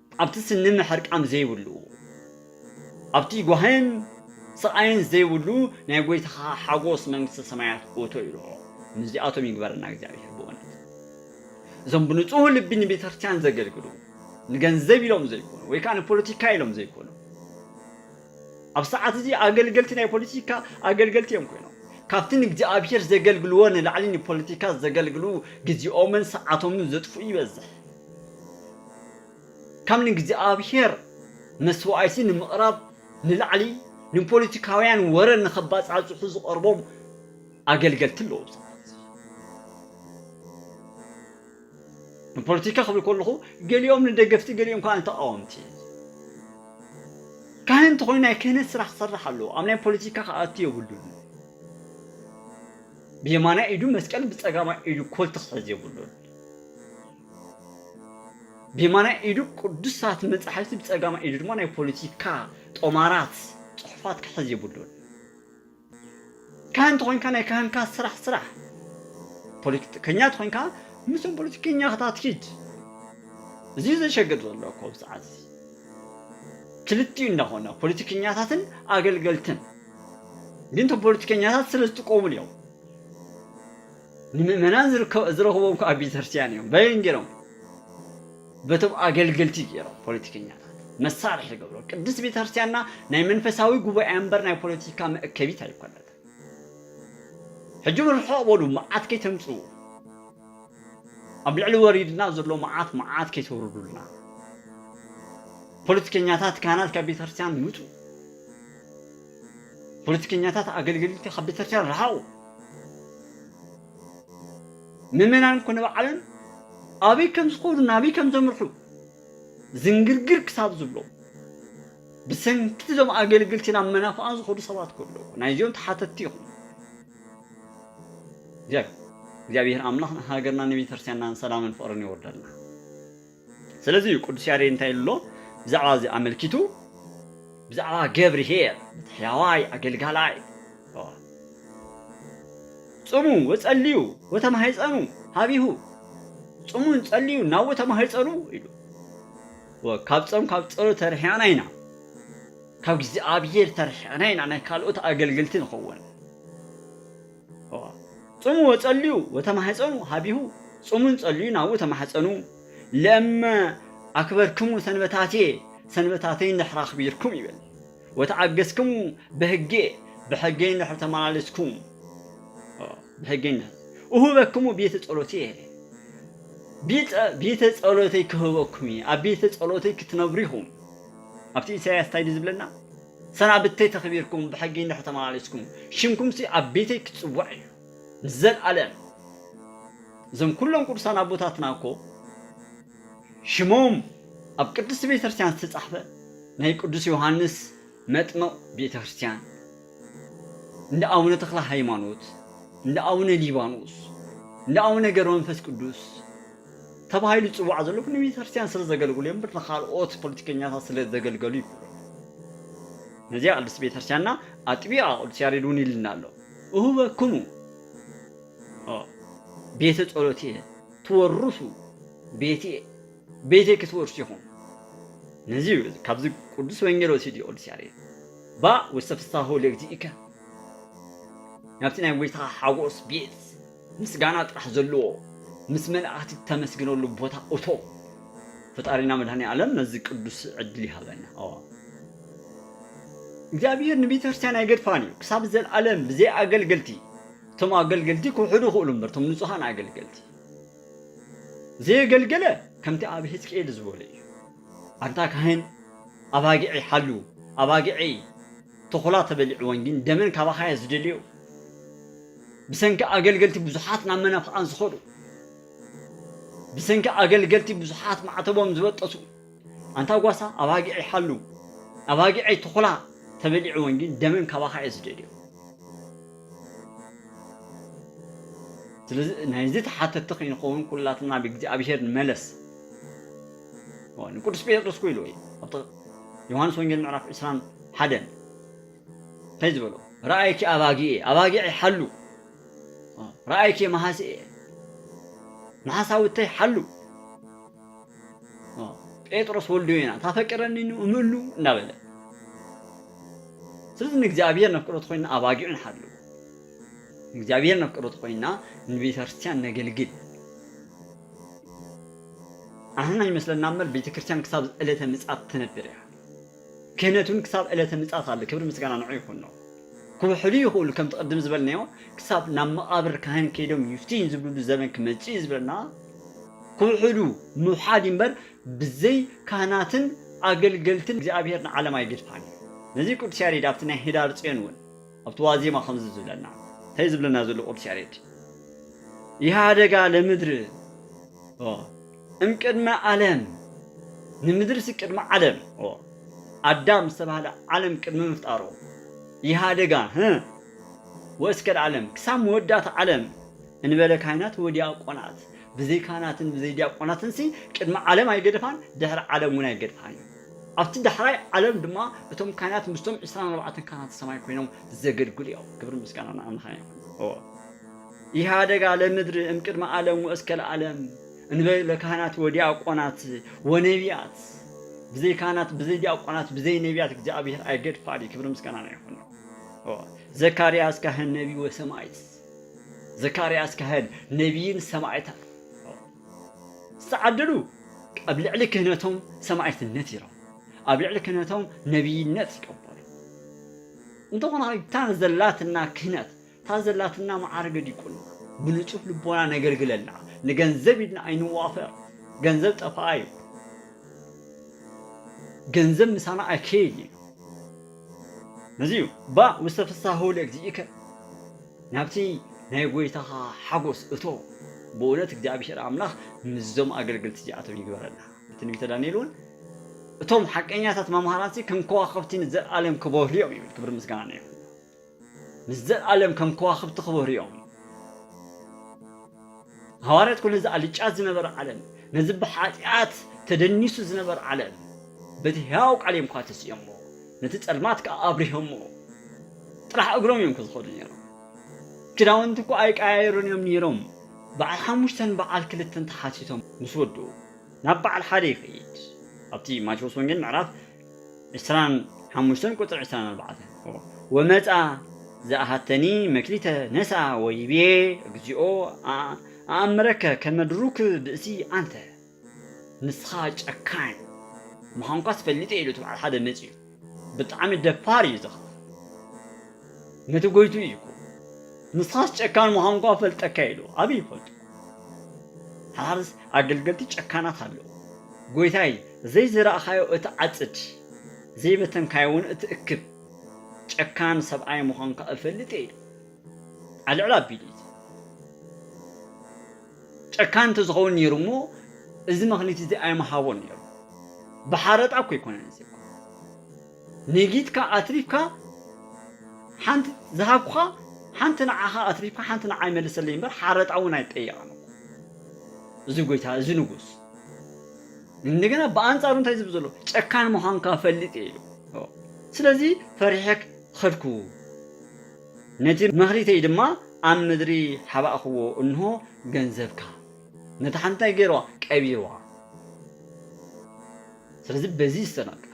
ኣብቲ ስኒ ምሕርቃም ዘይብሉ፣ ኣብቲ ጓህን ስቓይን ዘይብሉ ናይ ጎይታኻ ሓጎስ መንግስተ ሰማያት እቶ ኢሎ። ምስዚኣቶም ይግበረና እግዚኣብሄር ብእውነት። እዞም ብንጹህ ልቢ ንቤተክርስትያን ዘገልግሉ፣ ንገንዘብ ኢሎም ዘይኮኑ ወይ ከኣ ንፖለቲካ ኢሎም ዘይኮኑ፣ ኣብ ሰዓት እዚ ኣገልገልቲ ናይ ፖለቲካ ኣገልገልቲ እዮም ኮይኖም። ካብቲ ንእግዚኣብሄር ዘገልግልዎ ንላዕሊ ንፖለቲካ ዘገልግሉ ግዜኦምን ሰዓቶምን ዘጥፍኡ ይበዝሕ። ካብ ንእግዚኣብሔር መሥዋዕቲ ንምቕራብ ንላዕሊ ንፖለቲካውያን ወረ ንኸባጻጽሑ ዝቐርቦም ኣገልገልቲ ኣለዉ ብዙሓት። ንፖለቲካ ክብል ከለኹ ገሊኦም ንደገፍቲ ገሊኦም ከኣ ንተቓወምቲ። ካህን እንተኾይኑ ናይ ክህነት ስራሕ ክሰርሕ ኣለዎ። ኣብ ናይ ፖለቲካ ክኣቱ የብሉን። ብየማናይ ኢዱ መስቀል ብጸጋማይ ኢዱ ኮልቲ ክሕዝ የብሉን። ብየማናይ ኢዱ ቅዱሳት መጻሕፍቲ ብጸጋማይ ኢዱ ድማ ናይ ፖለቲካ ጦማራት ጽሑፋት ክሕዝ የብሉን። ካህን ተኾይንካ ናይ ካህንካ ስራሕ ስራሕ፣ ፖለቲከኛ ተኾይንካ ምስቶም ፖለቲከኛታት ኪድ። እዚ ዘሸግር ዘሎ እኮ ኣብዚ ሰዓት እዚ ክልቲኡ እንዳኾና ፖለቲከኛታትን ኣገልገልትን ግን እቶም ፖለቲከኛታት ስለ ዝጥቀሙን እዮም ንምእመናን ዝረኽብዎም ከኣ ኣብ ቤተክርስትያን እዮም በየን ጌሮም በቶም ኣገልገልቲ ጌሮም ፖለቲከኛታት መሳርሒ ገብሮ ቅድስት ቤተክርስትያንና ናይ መንፈሳዊ ጉባኤ እምበር ናይ ፖለቲካ መእከቢት ኣይኮነት ሕጂ እውን ርሑቕ በሉ መዓት ከይተምፅኡ ኣብ ልዕሊ ወሪድና ዘሎ መዓት መዓት ከይተውርዱልና ፖለቲከኛታት ካህናት ካብ ቤተ ክርስቲያን ውፁ ፖለቲከኛታት ኣገልገልቲ ካብ ቤተክርስቲያን ረሓቑ። ምእመናን እኮ ንባዕሎም ኣበይ ከም ዝኸዱ ናበይ ከም ዘምርሑ ዝንግርግር ክሳብ ዝብሎ ብሰንኪ እዞም ኣገልግልቲ ናብ መናፍቓን ዝኸዱ ሰባት እኮ ኣለዉ። ናይዚኦም ተሓተትቲ ኢኹም። እግዚኣብሔር ኣምላኽ ንሃገርና ንቤተክርስቲያንናን ሰላምን ፍቕርን የውርደልና። ስለዚ እዩ ቅዱስ ያሬድ እንታይ ኢሉ ኣሎ ብዛዕባ እዚ ኣመልኪቱ። ብዛዕባ ገብርሄር ነቲ ሕያዋይ ኣገልጋላይ ጽሙ ወጸልዩ ወተማህጸኑ ሃቢሁ ጽሙን ጸልዩ ናው ተማህጸኑ ኢሉ ካብ ጾም ካብ ጸሎት ተርሒቕና ኢና ካብ እግዚኣብሔር ተርሒቕና ኢና ናይ ካልኦት ኣገልግልቲ ንኸውን ጾሙ ወጸልዩ ወተማሕጸኑ ኀቤሁ ጾሙን ጸልዩ ናብኡ ተማሕጸኑ ለእመ ኣክበርክሙ ሰንበታትየ ሰንበታተይ እንድሕር ኣኽቢርኩም ይብል ወተኣገሥክሙ በሕጌ ብሕገይ እንድሕር ተመላለስኩም ብሕገይ እንድሕር እሁበክሙ ቤተ ጸሎትየ ቤተ ጸሎተይ ክህበኩም እየ ኣብ ቤተ ጸሎተይ ክትነብሩ ኢኹም ኣብቲ ኢሳይያስ እንታይ ድዩ ዝብለና ሰናብተይ ተኽቢርኩም ብሕጊ እንድሕር ተመላለስኩም ሽምኩምሲ ኣብ ቤተይ ክጽዋዕ እዩ ንዘልኣለም እዞም ኩሎም ቅዱሳን ኣቦታትና እኮ ሽሞም ኣብ ቅድስቲ ቤተ ክርስቲያን ዝተጻሕፈ ናይ ቅዱስ ዮሃንስ መጥምቕ ቤተ ክርስቲያን እንደ ኣቡነ ተክለ ሃይማኖት እንደ ኣቡነ ሊባኖስ እንደ ኣቡነ ገብረ መንፈስ ቅዱስ ተባሂሉ ዝጽዋዕ ዘሎ ብ ንቤተክርስትያን ስለ ዘገልግሉ እዮም እምበር ንካልኦት ፖለቲከኛታት ስለ ዘገልገሉ ኣይኮኑን። ነዚኣ ቅድስቲ ቤተክርስትያንና ኣጥቢቓ ቅዱስ ያሬድ ውን ኢሉና ኣሎ እሁበክሙ ቤተ ጸሎትየ ትወርሱ ቤትየ ቤተይ ክትወርሱ ኢኹም ነዚ እዩ ካብዚ ቅዱስ ወንጌል ወሲዱ እዩ ቅዱስ ያሬድ ባእ ውስተ ፍስሓሁ ለእግዚእከ ናብቲ ናይ ጎይታኻ ሓጎስ ቤት ምስጋና ጥራሕ ዘለዎ ምስ መላእክቲ ተመስግነሉ ቦታ እቶ ፈጣሪና መድኃኔዓለም ነዚ ቅዱስ ዕድል ይሃበና ኣዋ። እግዚኣብሔር ንቤተክርስትያን ኣይገድፋን እዩ ክሳብ ዘለዓለም ብዘይ ኣገልገልቲ እቶም ኣገልገልቲ ክውሕዱ ይኽእሉ እምበር እቶም ንጹሃን ኣገልገልቲ ዘየገልገለ ከምቲ ኣብ ህዝቅኤል ዝበሎ እዩ ኣንታ ካህን ኣባጊዐይ ሓሉ ኣባጊዐይ ተኹላ ተበሊዕወን ግን ደመን ካባኻ እያ ዝደልዮ ብሰንኪ ኣገልገልቲ ብዙሓት ናብ መናፍቓን ዝኸዱ ብሰንኪ ኣገልገልቲ ብዙሓት ማዕተቦም ዝበጠሱ ኣንታ ጓሳ ኣባጊዐይ ሓሉ ኣባጊዐይ ተኹላ ተበሊዕወን ግን ደመን ካባኻ እያ ዝደልዮ ስለዚ ናይዚ ተሓተቲ ከይንኸውን ኩላትና ብእግዚኣብሄር ንመለስ ንቅዱስ ጴጥሮስ ኮ ኢልዎ እዩ ዮሃንስ ወንጌል ምዕራፍ ዕስራን ሓደን እንታይ ዝበሎ ረኣይኪ ኣባጊኤ ኣባጊዐይ ሓሉ ረኣይኪ መሃስኤ መሓሳውተይ ሓሉ ጴጥሮስ ወልዶ ኢና ታፈቅረኒ እምሉ እናበለ ስለዚ ንእግዚኣብሔር ነፍቅረቱ ኮይና ኣባጊዑ ንሓሉ ንእግዚኣብሔር ነፍቅረቱ ኮይና ንቤተክርስትያን ነገልግል ኣህና ይመስለና እምበር ቤተክርስትያን ክሳብ ዕለተ ምጽኣት ትነብር እያ ክህነት ውን ክሳብ ዕለተ ምጽኣት ኣሎ ክብሪ ምስጋና ንዑ ይኹኖ ክውሕዱ ይኽእሉ ከምቲ ቅድም ዝበልናዮ ክሳብ ናብ መቓብር ካህን ከይዶም ይፍትዩ ዝብልሉ ዘበን ክመጽእ እዩ ዝብለና ክውሕዱ ምውሓድ እምበር ብዘይ ካህናትን ኣገልገልትን እግዚኣብሔር ንዓለም ኣይግድፋን እዩ ነዚ ቅዱስ ያሬድ ኣብቲ ናይ ህዳር ጽዮን ውን ኣብቲ ዋዜማ ከምዚ ዝብለና ታይ ዝብለና ዘሎ ቅዱስ ያሬድ ኢሃደጋ ለምድር ኦ እምቅድመ ኣለም ንምድርሲ ቅድሚ ዓለም ኦ ኣዳም ዝተባህለ ዓለም ቅድሚ ምፍጣሩ ኢሃደጋ ህ ወእስከ ለዓለም ክሳብ መወዳእታ ዓለም እንበለ ካህናት ወዲያቆናት ብዘይ ካህናትን ብዘይ ዲያቆናትንሲ ቅድሚ ዓለም ኣይገደፋን ድሕሪ ዓለም እውን ኣይገድፋን እዩ። ኣብቲ ዳሕራይ ዓለም ድማ እቶም ካህናት ምስቶም ዕስራን ኣርባዕተን ካህናተ ሰማይ ኮይኖም ዘገልግሉ እዮም። ክብሪ ምስጋና ንኣምላኽና ይኹን። ኢሃደጋ ለምድሪ እምቅድመ ዓለም ወእስከ ለዓለም እንበይ ለካህናት ወዲያቆናት ወነቢያት ብዘይ ካህናት ብዘይ ዲያቆናት ብዘይ ነቢያት እግዚኣብሔር ኣይገድፋል ክብሪ ምስጋና ይኹን ነው። ዘካርያስ ካህን ነቢ ወሰማይት ዘካርያስ ካህን ነቢይን ሰማይታት ዝተዓደሉ ኣብ ልዕሊ ክህነቶም ሰማዒትነት ይረኽቡ፣ ኣብ ልዕሊ ክህነቶም ነብይነት ይቀበሉ። እንተኾነ እታ ዘላትና ክህነት፣ እታ ዘላትና መዓርገ ዲቁና ብንጹህ ልቦና ነገልግለላ፣ ንገንዘብ ኢልና ኣይንዋፈር፣ ገንዘብ ጠፋኣይ እዩ፣ ገንዘብ ምሳና ኣይከይድን እዩ። ነዚ'ዩ ባእ ምስ ተፍሳህው ለእግዚእከ፣ ናብቲ ናይ ጐይታኻ ሓጐስ እቶ። ብእውነት እግዚኣብሄር ኣምላኽ ምስዞም ኣገልገልቲ እዚኣቶም ይግበረና። ብትንቢተ ዳንኤል'ውን እቶም ሓቀኛታት መምሃራንሲ ከም ከዋኽብቲ ንዘለኣለም ኪበርሁ'ዮም ይብል። ክብርን ምስጋናን ንየሆዋ። ምስ ዘልኣለም ከም ከዋኽብቲ ክበሩ'ዮም። ሃዋርያት'ኮ ነዚ ኣልጫት ዝነበረ ዓለም፣ ነዚ ብሓጢኣት ተደኒሱ ዝነበረ ዓለም በቲ ሕያው ቃል'ዮም'ኳ ተሲኦሞ፣ ነቲ ጸልማት ከኣ ኣብሪሆሞ። ጥራሕ እግሮም'ዮም'ኮ ዝኸዱ ነይሮም። ክዳውንቲ'ኳ ኣይቀያየሩን'ዮም ነይሮም። በዓል ሓሙሽተን በዓል ክልተን ተሓቲቶም ምስ ወድኡ፣ ናብ በዓል ሓደ ይኸይድ። ኣብቲ ማቴዎስ ወንጌል ምዕራፍ ዕስራን ሓሙሽተን ቁጽሪ ዕስራን ኣርባዕተን። ወመጽኣ ዘኣሐተኒ መክሊተ ነስኣ ወይቤ እግዚኦ ኣኣምረከ ከመ ድሩክ ብእሲ ኣንተ። ንስኻ ጨካን ምዃንኳስ ፈሊጠ ኢሉ እቲ በዓል ሓደ መጺኡ። ብጣዕሚ ደፋር እዩ እዚ ኸኣ። ነቲ ጎይትኡ እዩ እኮ ንስኻስ ጨካን ምዃንኳ እፈልጠካ ኢሉ። ኣበይ ይፈልጦ። ሓርስ ኣገልገልቲ ጨካናት ኣለዉ። ጐይታይ፣ ዘይዘራእካዮ እትዓጽድ፣ ዘይበተንካዮውን እትእክብ ጨካን ሰብኣይ ምዃንካ እፈልጥ እየ ኢሉ ኣልዕል ኣቢሉ እዩ። ጨካን እንተዝኸውን ነይሩ እሞ እዚ መኽኒት እዚ ኣይምሃቦን ነይሩ። ብሓረጣ እኮ ኣይኮነን እዚ እኮ ነጊትካ ኣትሪፍካ ሓንቲ ዝሃብኩኻ ሓንቲ ንዓኻ ኣትሪፍካ ሓንቲ ንዓይ መልሰለይ እምበር ሓረጣ እውን ኣይጠየቕን እኮ እዚ ጎይታ እዚ ንጉስ እንደገና ብኣንጻሩ እንታይ ዝብል ዘሎ ጨካን ምዃንካ ፈልጥ እየ ኢሉ ስለዚ ፈሪሐ ኸድኩ ነቲ መኽሊተይ ድማ ኣብ ምድሪ ሓባእክዎ እንሆ ገንዘብካ ነታ ሓንቲ እንታይ ገይርዋ ቀቢርዋ ስለዚ በዚ ዝተነቀለ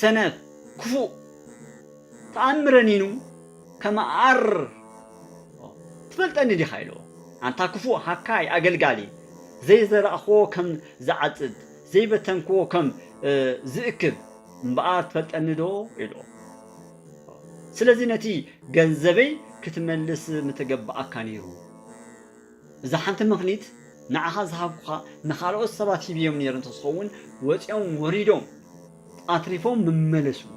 ሰነፍ ክፉእ ተኣምረኒኑ ከመኣር ትፈልጠኒ ዲኻ ኢልዎ። ኣንታ ክፉእ ሃካይ ኣገልጋሊ ዘይዘራእክዎ ከም ዝዓጽድ ዘይበተንክዎ ከም ዝእክብ እምበኣር ትፈልጠኒዶ ኢልዎ። ስለዚ ነቲ ገንዘበይ ክትመልስ ምተገበኣካ ነይሩ። እዛ ሓንቲ ምኽኒት ንዓኻ ዝሃብኩኻ ንኻልኦት ሰባት ሂብዮም ነይረ እንተዝኸውን ወፂኦም ወሪዶም ኣትሪፎም ምመለስዎ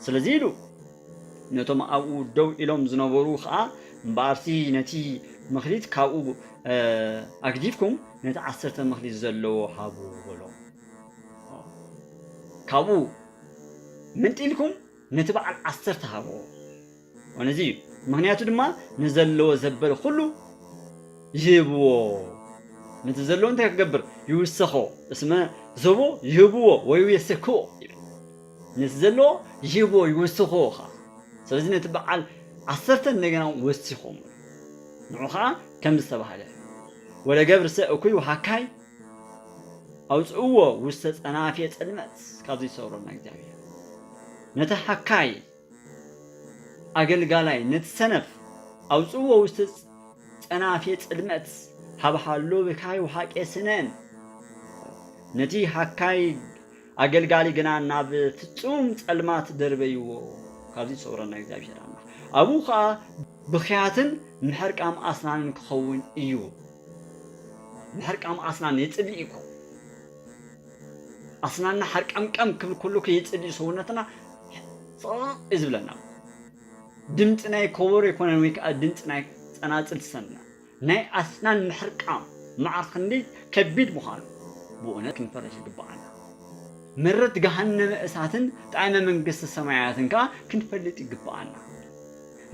ስለዚ ኢሉ ነቶም ኣብኡ ደው ኢሎም ዝነበሩ ከዓ እምበኣርሲ ነቲ ምኽኒት ካብኡ ኣግዲፍኩም ነቲ ዓሰርተ ምኽኒት ዘለዎ ሃቡ በሎ ካብኡ ምንጢልኩም ነቲ በዓል ዓሰርተ ሃብዎ ወነዚ እዩ ምክንያቱ ድማ ንዘለዎ ዘበለ ኩሉ ይህብዎ ነቲ ዘለዎ እንታይ ክገብር ይውሰኾ እስመ ዘቦ ይህብዎ ወይ የሰክዎ ነቲ ዘለዎ ይህብዎ ይውስኽዎ ኸዓ ስለዚ ነቲ በዓል ዓሰርተ እንደገና ወሲኾም ንዑ ከዓ ከም ዝተባሃለ ወለገብርሰ እኩይ ውሃካይ ኣውፅእዎ ውስተ ፀናፌ ፅልመት ካብዚ ይሰውረና እግዚኣብሔር ነቲ ሃካይ ኣገልጋላይ ነቲ ሰነፍ ኣውጽእዎ ውስተ ጸናፌ ጽልመት ሀብሃሎ ብካይ ወሃቄ ስነን ነቲ ሃካይ ኣገልጋሊ ግና ናብ ፍጹም ጸልማት ደርበይዎ ካብዚ ይሰውረና እግዚኣብሔር ኣምላኽ ኣብኡ ከኣ ብኽያትን ምሕርቃም ኣስናንን ክኸውን እዩ ምሕርቃም ኣስናን የጽልእ እኮ ኣስናንና ሓርቀምቀም ክብል ኩሉ ከይጽል እዩ ሰውነትና እዩ ዝብለና ድምፂ ናይ ኮቦሮ ይኮነን ወይ ከዓ ድምፂ ናይ ፀናፅል ትሰምዕ ናይ ኣስናን ምሕርቃም መዓር ክንደይ ከቢድ ምዃኑ ብእውነት ክንፈረሽ ይግባኣና መረት ገሃነመ እሳትን ጣዕመ መንግስቲ ሰማያትን ከዓ ክንፈልጥ ይግባኣና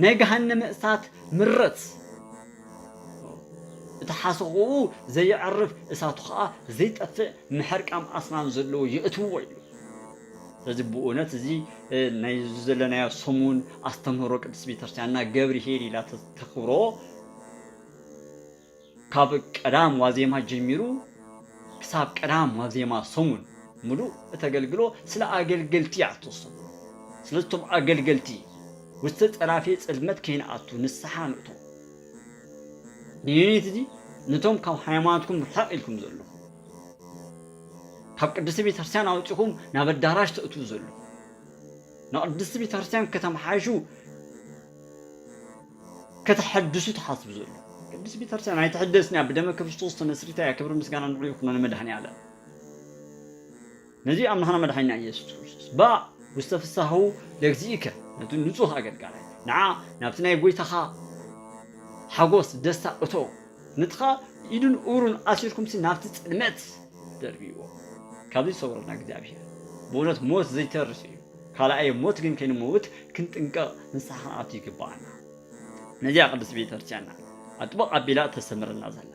ናይ ገሃነመ እሳት ምረት እቲ ሓሰኹኡ ዘየዕርፍ እሳቱ ኸኣ ዘይጠፍእ ምሕርቃም ኣስናን ዘለዎ የእትውዎ ይብሉ። ስለዚ ብኡነት እዚ ናይ ዘለናዮ ሰሙን ኣስተምህሮ ቅድስት ቤተክርስቲያንና ገብርሄል ኢላ ተክብሮ ካብ ቀዳም ዋዜማ ጀሚሩ ክሳብ ቀዳም ዋዜማ ሰሙን ምሉእ እተገልግሎ ስለ ኣገልገልቲ እያ እትወሰኑ። ስለዚ እቶም ኣገልገልቲ ምስቲ ጸናፊ ጽልመት ከይንኣቱ ንስሓ ንእቶ። ንዩኒት እዚ ነቶም ካብ ሃይማኖትኩም ርሕቕ ኢልኩም ዘለኹም፣ ካብ ቅድስቲ ቤተክርስትያን ኣውጺኹም ናብ ኣዳራሽ ተእትዉ ዘለኹም፣ ንቅድስቲ ቤተክርስትያን ከተመሓይሹ ከተሐድሱ ትሓስቡ ዘለኹም ቅድስቲ ቤተክርስትያን ኣይትሕደስን እያ ብደመ ክርስቶስ ተመስሪታ እያ ክብሪ ምስጋና ንዑ ይኹኖ ንመድኃኔዓለም። ነዚ ኣምላኽና መድሓኒና ኢየሱስ ክርስቶስ ባእ ውስተ ፍሥሓሁ ለእግዚእከ ነቲ ንጹህ ኣገልጋላይ ንዓ ናብቲ ናይ ጐይታኻ ሓጐስ ደስታ እቶ ንትኻ ኢዱን እግሩን ኣሲርኩምሲ ናብቲ ጽልመት ደርብይዎ ካብዚ ይሰውረና እግዚኣብሔር ብእውነት ሞት ዘይተርፍ እዩ ካልኣይ ሞት ግን ከይንመውት ክንጥንቀቕ ንስሓ ክንኣቱ ይግብኣና። ነዚኣ ቅድስት ቤተ ክርስቲያን እያ ኣጥብቕ ኣቢላ እተስተምረና ዘላ።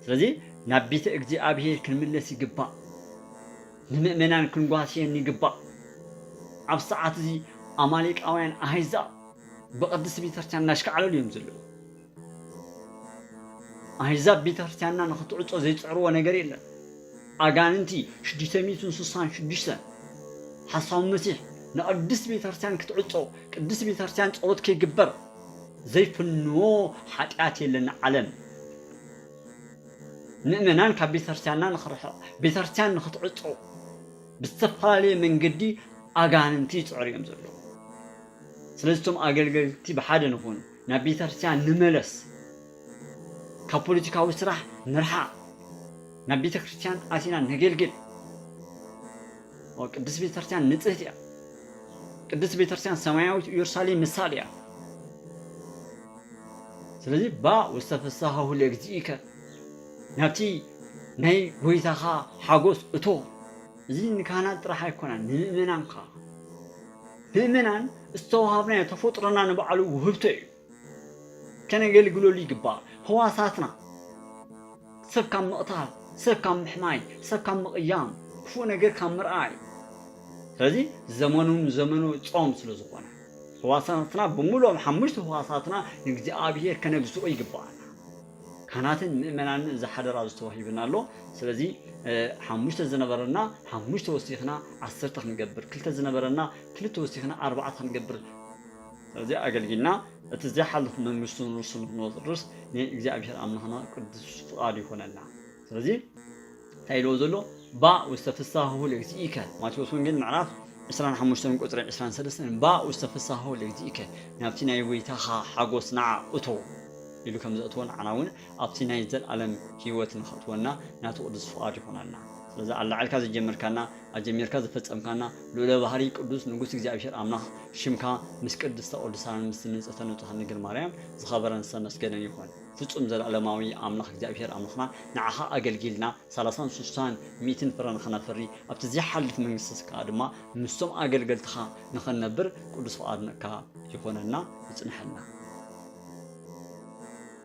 ስለዚ ናብ ቤተ እግዚኣብሔር ክንምለስ ይግባእ። ንምእመናን ክንጓስየን ይግባእ። ኣብ ሰዓት እዚ ኣማሌቃውያን ኣህዛብ ብቅድስት ቤተ ክርስቲያን እናሽካዕለሉ እዮም ዘለዉ። ኣህዛብ ቤተ ክርስቲያንና ንክትዕጾ ዘይጽዕርዎ ነገር የለን። ኣጋንንቲ ሽዱሽተ ሚእትን ስሳን ሽዱሽተን ሓሳዊ መሲሕ ንቅድስት ቤተክርስትያን ክትዕጾ ቅድስት ቤተክርስትያን ጸሎት ከይግበር ዘይፍንዎ ሓጢኣት የለን ንዓለም ምእመናን ካብ ቤተክርስትያንና ንኽርሕቕ ቤተክርስትያን ንኽትዕጾ ብዝተፈላለየ መንገዲ ኣጋንንቲ ይጽዕሩ እዮም ዘለዉ ስለዚ እቶም ኣገልገልቲ ብሓደ ንኹን ናብ ቤተክርስትያን ንመለስ ካብ ፖለቲካዊ ስራሕ ንርሓቕ ናብ ቤተ ክርስቲያን ኣቲና ነገልግል። ቅድስት ቤተ ክርስቲያን ንጽህት እያ። ቅድስት ቤተ ክርስቲያን ሰማያዊት ኢየሩሳሌም ምሳሌ እያ። ስለዚ ባ ውስተ ፍስሓሁ ለእግዚእከ ናብቲ ናይ ጎይታኻ ሓጎስ እቶ እዚ ንካህናት ጥራሕ ኣይኮናን ንምእመናን ከዓ ምእመናን ዝተዋሃብናዮ ተፈጥሮና ንባዕሉ ውህብቶ እዩ ከነገልግለሉ ይግባእ። ህዋሳትና ሰብ ካብ ምቕታል፣ ሰብ ካብ ምሕማይ፣ ሰብ ካብ ምቕያም፣ ክፉእ ነገር ካብ ምርኣይ፣ ስለዚ ዘመኑ ንዘመኑ ጾም ስለ ዝኾነ፣ ህዋሳትና ብምሉኦም ሓሙሽተ ህዋሳትና ንእግዚኣብሄር ከነግዝኦ ይግብኣና። ካህናትን ምእመናንን እዚ ሓደራ እዚ ተዋሂብና ኣሎ። ስለዚ ሓሙሽተ ዝነበረና ሓሙሽተ ወሲኽና ዓሰርተ ክንገብር፣ ክልተ ዝነበረና ክልተ ወሲኽና ኣርባዕተ ክንገብር፣ እዚ ኣገልጊልና እቲ ዘይሓልፍ መንግስቱ ንርሱ ንክንወርስ ናይ እግዚኣብሔር ኣምላክና ቅዱስ ፍቃድ ይኮነልና ስለዚ እንታይ ኢልዎ ዘሎ ባእ ውስተ ፍሳሁ ለግዚእከ ማቴዎስ ወንጌል ምዕራፍ 25 ቁፅሪ 23 ባእ ውስተ ፍሳሁ ለግዚእከ ናብቲ ናይ ወይታኻ ሓጎስ ንዓ እቶ ኢሉ ከም ዘእትወን ዓና እውን ኣብቲ ናይ ዘለኣለም ሂወት ንኸእትወና ናቱ ቅዱስ ፍቓድ ይኾነልና ስለዚ ኣላዕልካ ዝጀመርካና ኣጀሚርካ ዘፈጸምካና ልኡለ ባህሪ ቅዱስ ንጉስ እግዚኣብሔር ኣምላኽ ሽምካ ምስ ቅድስተ ቅዱሳንን ምስቲ ንጽህተ ንጹሃን ድንግል ማርያም ዝኸበረን ዝተመስገነን ይኹን። ፍጹም ዘለኣለማዊ ኣምላኽ እግዚኣብሔር ኣምላኽና ንዓኻ ኣገልጊልና ሰላሳን ስሳን ሚእትን ፍረ ንኸነፍሪ ኣብቲ ዘይሓልፍ መንግስተ ስጋኻ ድማ ምስቶም ኣገልገልትኻ ንኸንነብር ቅዱስ ፍቓድካ ይኹነና ይጽነሐልና።